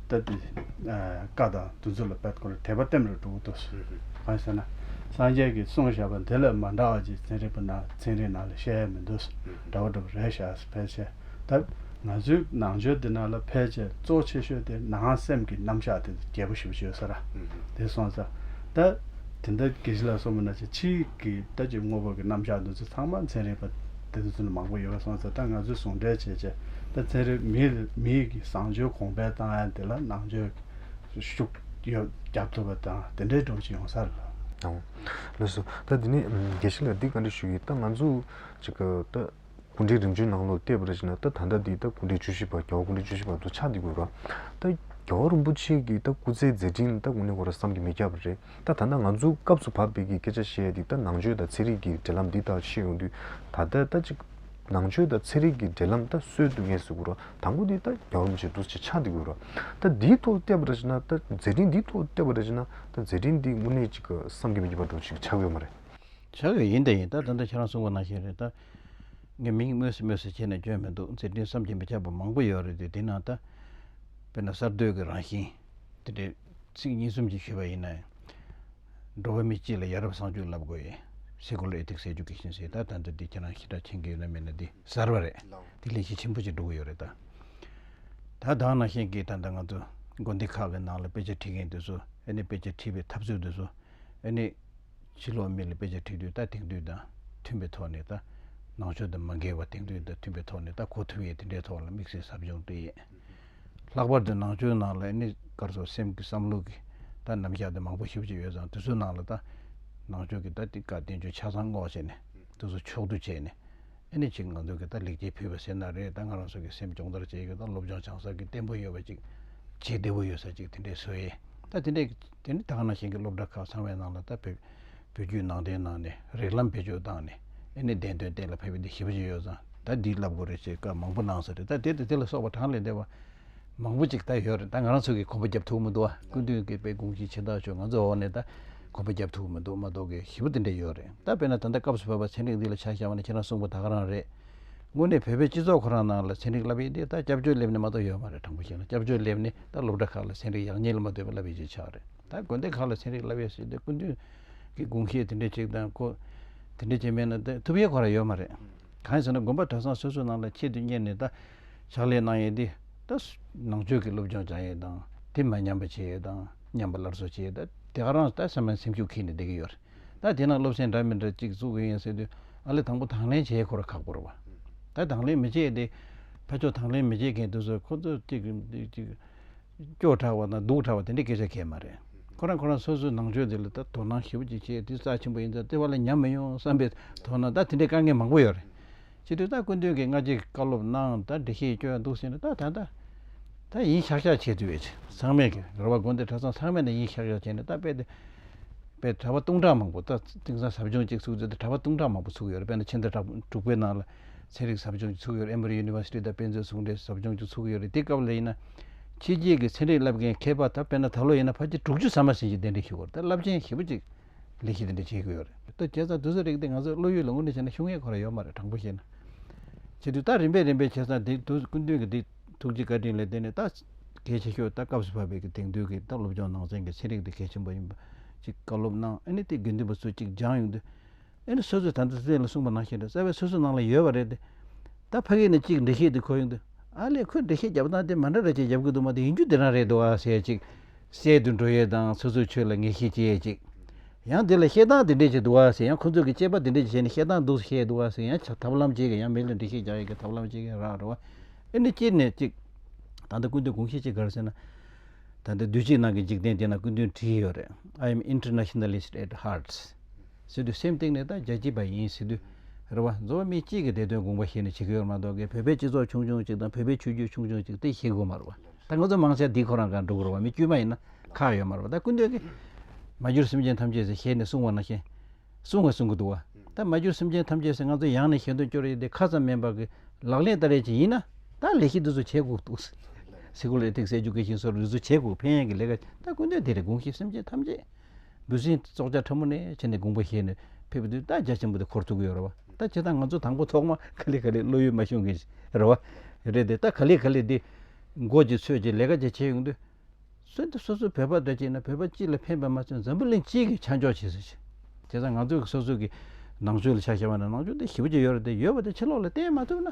ལྟ་སྟེ། བཀའ་དང་དུས་ཚོད་ལ་དཔལ་དཀོན་ལ་དད་པ་བརྟན་པར་འགྲོ་དགོས་ཏོ། གང་ཞེ་ན། སངས་རྒྱས་ཀྱིས་གསུངས་བཞག་པ་འདི་ལ་མ་འདྲ་བ་ཅིག་ཚན་རིག་པ་ན་ཚན་རིག་ནང་ལ་བཤད་ཡ་མི་འདུག་འདྲ་བོ་འདྲ་བོ་རེ་བཞག་སོ་ཕལ་ཆེར་ལྟར། ང་ཚོའི་ནང་ཆོས་འདི་ནང་ལ་ཕལ་ཆེར་གཙོ་བོ་ཆེ་ཤོས་དེ་ནང་སེམས་ཀྱི་རྣམ་གཞག་དེ་རྒྱལ་པོ་ཞེས་པ་བརྗོད་ས་ར་དེ་སོང་ཙང། ད་དེ་འདྲ་གེགས་ལ་སོང་བ་ན་ཅིག་ཕྱིའི། གི་དོད་ཀྱི་དངོས་པོ་གི་རྣམ་གཞག་འདི་ཚོ་ཚང་མ་མཚན་རིག་པ་དེ་ཚོ་ནས་མང་པོ་ཡོད་པ་སོང་ཚེ་ད་ང་ཚོས་ཟུང་འབྲེལ་བྱེད་ཆེད་ད་ཚན་རིག་མིའི་གི་བཟང་སྤྱོད་གོང་འཕེལ་བཏང་ཡ་འདི་ལ་ནང་ཆོས་ཀྱི་ཤུགས་ཡོད་རྒྱབ་ཐུབ་པ་དང་དེ་འདྲའི་སྒྲོག་ཅིག་ཡོང་ས་རེད། ལོས་སོ། ད་འདི་ནས་དགེ་བཤེས་ལ་འདི་ག་འདྲི་ཞུ་ཡི་ད་ང་ཚོ་ཅིག་གི་ད་གུང་ཁྲན་རིམ་བྱོན་ནང་ལོག་བལྟས་པ་རེད་ཅིག་ན་ད་ད་ལྟ་འདི་ད་གུང་ཁྲན་བཅུ་བཞི་པ་རྒྱལ་བ་གུང་ཁྲན་བཅུ་བཞི་པ་ཚོ་ཕྱག་འདི་དགོས་པ། ད་རྒྱལ་བ་རིན་པོ་ཆེ་གི་ད་སྐུ་ཚེའི་མཛད་འཕྲིན་ད་གུང་ནས་གོ་ར་བསམ་གི་མི་རྒྱབ་པ་རེད། ད་ཐ་ན་ང་ཚོ་སྐབས་སུ་བབས་འདི་གི་སྐད་ཆ་བཤད་འདི་ད་ནང་ཆོས་དང་ཚན་རིག་གི་འབྲེལ་ལམ་འདི་དག་ཤེས་ཡོང་དུས་ད་ལྟ་ད་ཅིག་ནང་ཆོས་དང་ཚན་རིག་གི་འབྲེལ་ལམ་ད་སོས་དུས་ངས་ཟེར་དགོས་རོ་དང་པོ་འདི་ད་རྒྱ་རོམ་བྱེད་འདུག་ཅེས་ཆགས་འདི་དགོས་རོ་ད་འདིའི་ཐོག་བལྟས་པ་རེད་ཅེ་ན་ད་མཛད་འཕྲིན་འདིའི་ཐོག་བལྟས་པ་རེད་ཅེ་ན་ད་མཛད་འཕྲིན་འདི་དངོས་གནས་ཅིག་བསམ་གྱི་མི་འགྱུར་བ་འགྲོ་ཞིག་ཆགས་ཡོད་མ་རེད། ཆགས་ཡོད་ཡིན་ད་ཡིན་ད་ད་ལྟ་ཁྱེད་རང་གསུང་པ་ནང་བཞིན་རེད་ད། ངས་མིང་སྨོས་སུ་སྨོས་སུ་བྱས་ནས་འཇོན་མི་འདུག་མཛད་འཕྲིན་བསམ་གྱི་མི་ཁྱབ་པ་མང་པོ་ཡོད་རེད་དེ་དེ་ནང་ད། དཔེར་ན་གསར་གཏོད་ཀྱི་རང་བཞིན། དེ་འདྲའི། ཚིག་གཉིས་གསུམ་གྱིས་ཤོད་པ་ཡིན་ན། འགྲོ་བ་མི་སྤྱི་ལ་ཡ་རབས་བསང་ཆུ་བརླབ་དགོས་ཡིན། སེ་གོ་ལ་ཨེ་ཐིག་སེ་ཇུ་ཀེ་ཤིན་སེ་ད་ད་འདི་འདི་ཁྱེད་རང་ཤི་དྲག་མཁྱེན་གི་ཡོད་ན་མེད་ན་འདི་གཟར་བ་རེད་འདི་ལས་གཞི་ཆེན་པོ་ཅིག་འགྲོ་གི་ཡོད་རེད་ད། ད་དང་ན་ཤེས་གི་ད་ད་ང་ཚོ་དགོན་སྡེ་ཁག་གི་ནང་ལ་དཔེ་ཆ་འཁྲིད་མཁན་དེ་ཚོ་ཨེ་ནི་དཔེ་ཆ་འཁྲིད་པའི་ཐབས་ཚུལ་དེ་ཚོ་ཨེ་ནི། ཕྱི་ལོག་མི་ལ་དཔེ་ཆ་འཁྲིད་དུས་ད་དེང་དུས་དང་མཐུན་པའི་ཐོག་ནས་ད། ནང་ཆོས་དང་མ་འགལ་བ་དེང་དུས་དང་མཐུན་པའི་ཐོག་ནས་ད་གོ་ཐུབ་ཡས་དེ་འདྲའི་ཐོག་ལ་དམིགས་བསལ་ཟབ་སྦྱོང་དུ་ཡས། ལྷག་པར་དུ་ནང་ཆོས་ནང་ལ་ནི་སྐར་ཚོགས་སེམས་ཀྱི་བསམ་བློ་གི་ད་རྣམ་གཞག་དེ་མང་པོ་ཞིབ་ཅིག་ཡོད་ཙང་དེ་ཚོའི་ནང་ལ་ད་ནང་ཆོས་ཀྱི་ད་ཏི་ཀ་བསྟན་བཅོས་ཆ་ཚང་སྔོག་བྱས་ནས་དེ་ཚོ་ཕྱོགས་བསྡུ་བྱས་ནས་ཨེ་ནི་ཅིག་ང་ཚོ་གི་ད་ལེགས་སྐྱེས་ཕུལ་བ་ཟེར་ན་རེད་ད་ང་རང་ཚོ་གི་སེམས་སྦྱོང་བརྡར་བྱས་ཡོད་ད་སློབ་སྦྱོང་བྱང་ས་ཀི་བརྟན་པོ་ཡོད་པ་ཅིག་བྱེད་བདེ་བོ་ཡོད་ས་ཅིག་དེ་འདྲས་བཟོས་ཡས་ད་དེ་འདྲས་ཀི་དེ་ནི་ད་ག་ནང་བཞིན་གི་སློབ་གྲྭ་ཁག་ཚང་བའི་ནང་ལ་ད་བོད་བོད་བརྒྱུད་ནང་བསྟན་ནང་ནས་རིགས་ལམ་བེད་སྤྱོད་བཏང་ནས་ཨེ་ནི་བདེན་དོན་གཏན་ལ་ཕེབས་པའི་འདི་ཞིབ་ཅིག་ཡོད་ཙང་ད་འདི་བསླབ་དགོས་རེད་ཅེས་བཀའ་མང་པོ་གནང་ས་རེད་ད་དེ་དང་དེ་ལ་སོགས་པ་གྲངས་ལས་འདས་པ་མང་པོ་ཅིག་ད་ཡོད་རེད་ད་ང་རང་ཚོ་གིས་གོམ་པ་བརྒྱབ་ཐུབ་ཀྱི་མི་འདུག་ཨ་སྐུ་མདུན་གྱི་དཔལ་སྒོང་སྐྱིད་ཕྱི་ཐག་ཆོད་ང་ཚོ་འོག་ནས་ད་གོམ་པ་བརྒྱབ་ཐུབ་ཀྱི་མི་འདུག་མ་གཏོགས་གི་ཞི་བ་དེ་འདྲ་ཡོད་རེད་ད་དཔེར་ན་ད་ལྟ་སྐབས་སུ་བབས་པ་ཚན་རིག་འདི་ལ་ཆ་བཞག་པ་ནི་ཁྱེད་རང་གསུངས་པ་དག་རང་རེད། དངོས་གནས་བོད་པའི་སྤྱི་ཚོགས་ཁོ་རང་ནང་ལ་ཚན་རིག་བསླབ་ཡས་དེ་ད་སྐྱབས་བཅོལ་སླེབས་ནས་མ་གཏོགས་ཡོད་མ་རེད་དྲང་པོ་བཤད་ན་སྐྱབས་བཅོལ་སླེབས་ནས་ད་སློབ་གྲྭ་ཁག་ལ་ཚན་རིག་ཡག་ཉེས་ལ་མ་ལྟོས་པ་བསླབ་ཡས་ཅི་ཆ་རེད། ད་དགོན་སྡེ་ཁག་ལ་ཚན་རིག་བསླབ་ཡས་བྱས་ཏེ་སྐུ་མདུན་གྱི་དགུང་ཤེད་དེ་འདྲའི་ཅིག་དང་ཁོ་དེ་འདྲའི་བྱས་མེད་ན་ད་ཐུབ་ཡས་ཁོ་ར་ཡོད་མ་རེད། གང་ཟེར་ན་དགོན་པ་གྲྭ་ཚང་སོ་སོའི་ནང་ལ་ཆེད་དུ་གཉེར་ནས་ད་ཕྱག་ལས་གནང་ཡས་དེ་ད་ནང་ཆོས་ཀྱི་སློབ་སྦྱོང་བྱ་ཡས་དང་དེ་མ་ཉམས་པ་བྱེད་ཡས་དང་ཉམས་པ་སླར་གསོ་བྱེད་ཡས་ད་དེ་ག་རང་ད་སེམས་ན་སེམས་ཤུགས་འཁེལ་ནས་བསྡད་ཀྱི་ཡོད་རེད་ད་དེ་ན་སློབ་ཚན་འདྲ་མི་འདྲ་ཅིག་བཙུགས་ཀྱི་ཡིན་ཟེར་དུས་ཨ་ལེ་དང་པོ་དང་ལེན་བྱེད་ཡས་ཁོ་ར་ཁག་པོ་རེད་བ། ད་དང་ལེན་མི་བྱེད་ཡས་དེ་ཕ་ཆོག་དང་ལེན་མི་བྱེད་མཁན་དེ་ཚོ་ཁོ་ཚོ་ཅིག་གིས་ཅིག་སྐྱོ་དྲགས་པ་དང་སྡུག་དྲགས་པ་དེ་འདྲའི་སྐད་ཆ་གལ་མ་རེད། ཁོ་རང་ཁོ་རང་སོ་སོའི་ནང་ཆོས་དེ་ལ་ད་དོ་སྣང་ཞིབ་ཅིག་བྱས་དུས་རྩ་ཆེན་པོ་ཡིན་ཙང་ལྟེ་བ་ལ་ཉམས་མི་ཡོང་བསམ་པའི་དོ་སྣང་ད་དེ་འདྲའི་དཀའ་ངལ་མང་པོ་ཡོད་རེད། སྤྱིར་དུས་ད་སྐུ་མདུན་གྱི་སྔ་རྗེས་ཀྱི་བཀའ་སློབ་ནང་ད་འདྲི་ཤེས་སྐྱོ་ཡང་འདུག་ཟེར་ནས་ད་ད་ད་ད་ཡིན་ཤག་ཤག་བྱས་དུས་ཨེ་ཚང་མེད་ཀི་རེད་བ་དགོན་སྡེ་གྲྭ་ཚང་ཚང་མས་ད་ཡིན་ཤག་ཤག་བྱས་ནས་ད་དཔེ་དེ་དཔེ་གྲྭ་པ་སྟོང་ཕྲག་མང་པོ་ད་དེང་སང་ཟབ་སྦྱོང་གཅིག་ཚུགས་ཚེ་ད་གྲྭ་པ་སྟོང་ཕྲག་མང་པོ་ཚུགས་ཡོད་རེད་དཔེ་ན་ཕྱི་ཟླ་དྲག་དྲུག་པའི་ནང་ལ་ཚན་རིག་ཟབ་སྦྱོང་བཅུ་ཚུགས་ཡོད་རེད Emory University དང་དཔེ་མཛོད་ཟུང་འབྲེལ་ཟབ་སྦྱོང་བཅུ་ཚུགས་ཡོད་རེད་དེ་སྐབས་ལ་ཡིན་ན། ཕྱི་རྒྱལ་གྱི་ཚན་རིག་བསླབ་མཁན་མཁས་པ་དག་དཔེར་ན་ད་ལོ་ཡིན་ན་ཕ་ཁྱི་དྲུག་ཅུ་ཟ་མ་ཟིན་གྱིས་གདན་འདྲེན་ཞུ་དགོས་རེད་ད་རླབས་ཆེན་ཞེ་པོ་ཅིག་ལས་གཞི་དེ་འདྲ་བྱེད་དགོས་ཡོད་རེད་ལྟོས་བྱས་ཙང་དུས་ཚོད་རིག་སྟེ་ང་ཚོས་བློ་ཡུལ་ལ་ངོ་གནོད་བྱས་ན་ཤུགས་ངན་གོ་ར་ཡོད་མ་རེད་དྲང་པོ་བཤད་ན། བྱེད་དུས་ད་རིམ་པས་རིམ་པས་བྱས་ཙང་དེ་དུས་སྐུ་མདུན་གྱི་དེ་ཐུགས་རྗེ་བཀའ་དྲིན་ལས་དེ་ནས་ད་གལ་ཆེ་ཤོས་ད་སྐབས་སུ་བབས་པའི་གི་དེང་དུས་ཀྱི་ད་སློབ་སྦྱོང་ནང་ཚན་གྱི་ཚན་རིག་དེ་གལ་ཆེན་པོ་ཡིན་པ་ཅིག་བཀའ་སློབ་གནང་ཨ་ནི་དེ་དགེ་འདུན་པ་ཚོས་ཅིག་སྦྱང་ཡོང་དུས། ཨེ་ནི་སོ་སོས་ད་ལྟ་བཙལ་ལ་གསུངས་པ་ནང་བཞིན་རེད་བཙལ་བས་སོ་སོའི་ནང་ལ་ཡོད་པ་རེད་དེ། ད་ཕ་གིའི་ནས་གཅིག་འགྲེལ་བཤད་དེ་གོ་ཡོང་དུས། ཨ་ལས་ཁོས་འགྲེལ་བཤད་བརྒྱབ་སྟངས་དེ་མ་འདྲ་རེད་ཅེས་རྒྱབ་གི་འདུག་མ་དེ་ཡིན་རྒྱུ་དེ་རང་རེད་འདུག་ཨ་ཟེར་ཅིག། བསལ་དུ་འགྲོ་ཡས་དང་སོ་སོའི་ཆོས་ལ་ངེས་ཤེས་སྐྱེས་ཅིག། ཡང་དེ་ལ་བཤད་སྟངས་དེ་འདྲས་ཅིག་འདུག་ཨ་ཟེར་ཡང་ཁོ་ཚོས་ཀྱི་དཔྱད་པ་དེ་འདྲས་ཅིག་བྱས་ནས་བཤད་སྟངས་འདུག་བཤད་འདུག་ཨ་ཟེར་ཡང་བྱ་ཐབས་ལམ་སྤྱད་ཀྱི་ཡང་མི་ལ་འགྲེལ་བཤད་རྒྱག་ཡས་ཀྱི་ཐབས་ལམ་སྤྱད་ཀྱི་རག་རོ། ཨེ་ནི་སྤྱིར་ནས་གཅིག། ད་ལྟ་ཀུན་དོན་དགོངས་བཞེད་ཅིག་ག་རེ་ཟེར་ན། ད་ལྟ་དུས་ཕྱིས་ནང་གི་འཇིག་རྟེན་དེ་ན་ཀུན་དོན་བྲིས་ཡོད་རེད I am internationalist at hearts། ཟེར་དུས་སེམས་སྟེང་ནས་ད་རྒྱ་སྐྱིད་པ་ཡིན་ཟེར་དུས། རེ་བ་འཛོ་བ་མི་གཅིག་གི་བདེ་དོན་དགོངས་པ་ཞིག་ནི་བྱེད་ཀྱི་ཡོད་མ་གཏོགས་ཀི་བོད་པའི་སྤྱི་ཚོགས་ཆུང་ཆུང་གཅིག་དང་བོད་པའི་ཆོས་བརྒྱུད་ཆུང་ཆུང་གཅིག་དེ་ཤེས་དགོས་མ་རེད་བ། ད་ང་ཚོ་མང་ཆ་འདིས་ཁོ་རང་གང་འགྲོ་དགོས་རེད་བ་མི་དཀྱུས་མ་ཡིན་ན་ཁག་ཡོད་མ་རེད་བ་ད་ཀུན་འདོད་ཀི། མ་གྱུར་སེམས་ཅན་ཐམས་ཅད་ཟེར་ཞེས་ནི་གསུང་བ་ན་ཞེན། གསུང་བ་གསུང་གི་འདུག་བ། ད་མ་གྱུར་སེམས་ཅན་ཐམས་ཅད་ཟེར་ང་ཚོ་ཡང་ནི་ཞེ་འདོད་སྐྱོ་རེ་ཡིན་ཏེ་ཁ་ཙམ་མིན་པར་གི་ལག་ལེན་ལྟ་རེ་བྱེད་ཡིན་ན་ད་ལས་གཞི་འདི་ཚོ་བྱེད་དགོས་འདུག། སེ་ཁུ་ལས་ཐིག་སེ་ཇུ་ཀེ་ཤིན་སོགས་རུལ་སུ་བྱེད་དགོས་ཕན་ཡོན་གྱི་ལས་ཀ་བྱེད་ད་ཀུན་འདོད་དེ་རེད་དགོངས་ཤིག་སེམས་ཅན་ཐམས་ཅད། འབུ་སྲིན་སྲོག་ཆགས་ཕྲ་མོ་ནི་ཕྱི་ནས་དགུང་པོ་བཞེས་ནས་ཕེབས་དུས་རྟ་རྒྱ་ཆེན་པོ་དེ་འཁོར་ཐུག་གི་ཡོད་རེད་བ། རྟ་བྱེད་སྟངས་ང་ཚོ་དང་པོ་ཐོག་མ་ག་ལེ་ག་ལེ་བློ་ཡུལ་མ་ཤོང་གི་རེད་བ། རེད་དེ་རྟ་ག་ལེ་ག་ལེ་འདི་མགོ་གཅིག་ཚོས་གཅིག་ལས་ཀ་གཅིག་བྱེད་ཡོང་དུས། གསོན་དུས་སོ་སོའི་བོད་པ་འདོད་ཅིག་ན་བོད་པ་གཅིག་ལ་ཕན་པ་མ་ཚོས་འཛམ་བུ་གླིང་གཅིག་གི་ཆ་འཇོག་བྱེད་ཟེར་ཞིང། བྱེད་སྟངས་ང་ཚོ་གི་སོ་སོ་གི་ནང་ཆོས་ལ་ཆ་བཞག་པ་ན་ནང་ཆོས་འདི་ཞིབ་ཅིག་ཡོད་རེད་དེ་ཡོད་པ་དེ་ཕྱི་ལོག་ལ་བསྟན་མ་ཐུབ་ན།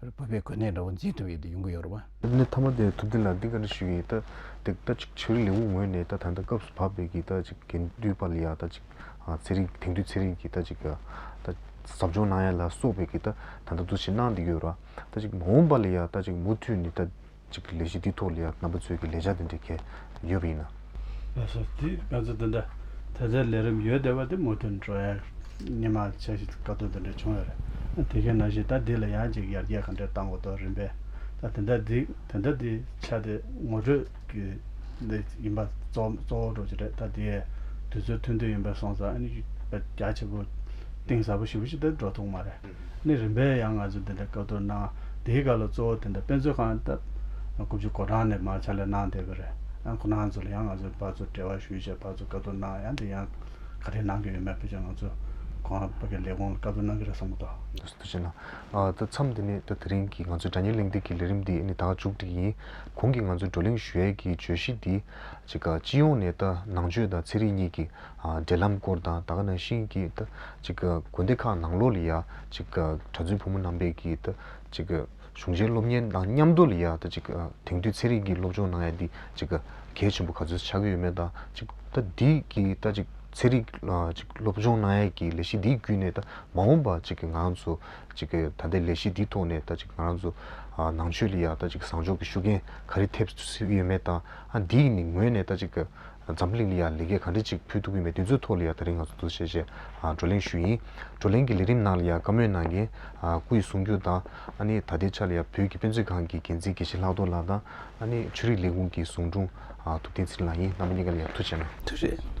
ཡོད། བོད་པའི་གོ་གནས་འདྲ་བོ་འཛིན་ཐུབ་ཡོད་དུ་ཡོང་གི་ཡོད་རེད་བ། ལས་གནས་མཐའ་མ་དེ་ཐུབ་བསྟན་ལ་འདི་ག་རེ་ཞུས་ཡིན་ད། དེ་ད་ཅིག་ཆོས་རིག་ལས་ཁུངས་ངོས་ནས་ད་ད་ལྟ་སྐབས་སུ་བབས་པའི་གི་ད་ཅིག་གན་དུས་པ་ལ་ཡ་ད་ཅིག་ཚེ་རིང་དེང་དུས་ཚེ་རིང་གི་ད་ཅིག་ག་ད་ཟབ་སྦྱོང་གནང་ཡ་ལ་སོགས་པའི་གི་ད་ད་ད་འདུ་བྱེད་གནང་འདི་ཡོད་ར། ད་ཅིག་མ་འོངས་པ་ལ་ཡ་ད་ཅིག་མུ་མཐུད་ནི་ད། གཅིག་གི་ལས་གཞི་དེའི་ཐོག་ལ་ཡང་རྣམ་པ་ཚོས་ཀྱི་ལས་འཆར་དེ་འདྲའི་གལ་ཡོད་པ་ཡིན་ན། ལ་སོགས་དུས་ག་ཚོད་དེ་འདྲ་དེ་ཚོའི་ལས་རིམ་ཡོད་བསྡད་པ་དེ་མུ་མཐུན་འགྲོ་ཡག་ཉི་མ་ཆ་ཞིག་ལ་དཀའ་སྡུག་དེ་འདྲ་བྱུང་ཡོད་རེད། དེ་གས་ན་བཞིན་ད་འདི་ལ་ཡང་གཅིག་ཡར་རྒྱས་ག་འདྲས་བཏང་གོ་ཐོག་རིམ་པས་ད་དེ་འདྲ་འདི་དེ་འདྲ་དེ་ཆ་དེ་ངོ་སྤྲོད་ཀྱི་ལས་ཡིན་པ་གཙོ་བོ་འགྲོ་གི་རེད་ད་དེ་ཡས་དུས་ཚོད་ཐུང་དུས་ཡིན་པས་སོང་ཙང་ཨ་ནི་རྒྱ་ཆེ་པོ་གཏིང་ཟབ་པོ་ཞིག་པོ་ཞིག་དེ་འགྲོ་ཐུག་མ་རེད། ནི་རིམ་པས་ཡང་ང་ཚོས་དེ་འདྲའི་བཀའ་བསྡུར་གནང། དེའི་སྐབས་ལ་གཙོ་བོ་དེ་འདྲ་དཔེ་མཛོད་ཁང་སྟབས། དགུ་བཅུ་གོ་གྲངས་ནས་མར་ཕྱག་ལས་གནང་བསྡད་པ་རེད། ཡང་ཁོ་ནང་ཚོ་ལ་ཡང་ང་ཚོའི་བར་ཚོ་འབྲེལ་བ་ཞུས་ཆེད་བར་ཚོ་བཀའ་བསྡུར་གནང་ཡང་དེ་ཡང་ག་རེ་གནང་གི་ཡོད་མེད་ཕལ་ཆེར་ང་ཚོས་གོང་ལ་བོད་ཀྱི་ལས་ཁུངས་ལ་བཀའ་བསྡུར་གནང་གི་རེད་བསམ་གི་འདུག། འདུག་ཟེར་དུ་བྱས་ན། ད་མཚམས་འདི་ནས་ད་དེ་རིང་གི་ང་ཚོའི་དགྲ་གཉེན་གླེང་སྟེགས་ཀྱི་ལས་རིམ་འདི་ནི་ད་མཇུག་བསྒྲིལ་ཡིན། གོང་གི་ང་ཚོའི་བགྲོ་གླེང་ཞུ་ཡས་ཀྱི་བརྗོད་གཞི་འདི། གཅིག་སྤྱི་ཡོངས་ནས་ད་ནང་ཆོས་དང་ཚན་རིག་གཉིས་ཀྱི། འབྲེལ་ལམ་སྐོར་དང་ད་ག་ནང་བཞིན་གྱི་དགོན་སྡེ་ཁག་ནང་ལོགས་ལ་ཡང་གྲྭ་བཙུན་བུ་མོ་རྣམ་པས་ཀྱི་གཞུང་ཆེན་སློབ་གཉེར་དང་མཉམ་དུ་ལ་ཡང་དེང་དུས་ཚན་རིག་གི་སློབ་སྦྱོང་གནང་ཡ་འདི་གལ་ཆེན་པོ་ག་ཚོད་ཆགས་ཀྱི་ཡོད་མེད་དང་འདི་གི་ཚན་རིག་སློབ་སྦྱོང་གནང་ཡ་གྱི་ལས་གཞི་འདི་བརྒྱུད་ནས་མ་འོངས་པ་ང་རང་ཚོ་ད་ལྟའི་ལས་གཞི་འདི་ཐོག་ནས་ང་རང་ཚོ་ནང་ཆོས་ལ་ཡང་བཟང་ཕྱོགས་ཀྱི་ཤུགས་རྐྱེན་ག་རེ་ཐེབས་སྲིད་ཀྱི་ཡོད་མེད་དང་འདིས་ནི་ངོས་ནས་འཛམ་གླིང་ལ་ཡང་ལས་ཀའི་གང་དྲིས་གཅིག་ཕུལ་ཐུབ་ཀྱི་མེད་དུས་ཚོད་ཐོག་ལ་ཡང་ད་རིང་ང་ཚོ་འདུ་ཤེས་བཅས་བགྲོ་གླེང་ཞུས་ཡིན། བགྲོ་གླེང་གི་ལས་རིམ་ནང་ལ་ཡང་བཀའ་མོལ་གནང་མཁན་སྐུ་ཡི་གསུང་རྒྱུན་དང། ཨ་ནི་ད་ལྟའི་ཆ་ལ་ཡང་བོད་ཀྱི་དཔེ་མཛོད་ཁང་གི་འགན་འཛིན་དགེ་བཤེས་ལྷག་རྡོར་ལགས་དང། ཨ་ནི་ཆོས་རིག་ལས་ཁུངས་ཀྱི་ཟུང་དྲུང་ཐུབ་བསྟན་ཚེ་རིང་ལགས་ཡིན་རྣམ་པ་གཉིས་ཀ་ལ་ཡང་ཐུགས་ཆེ་ན། ཐུགས་རྗེ།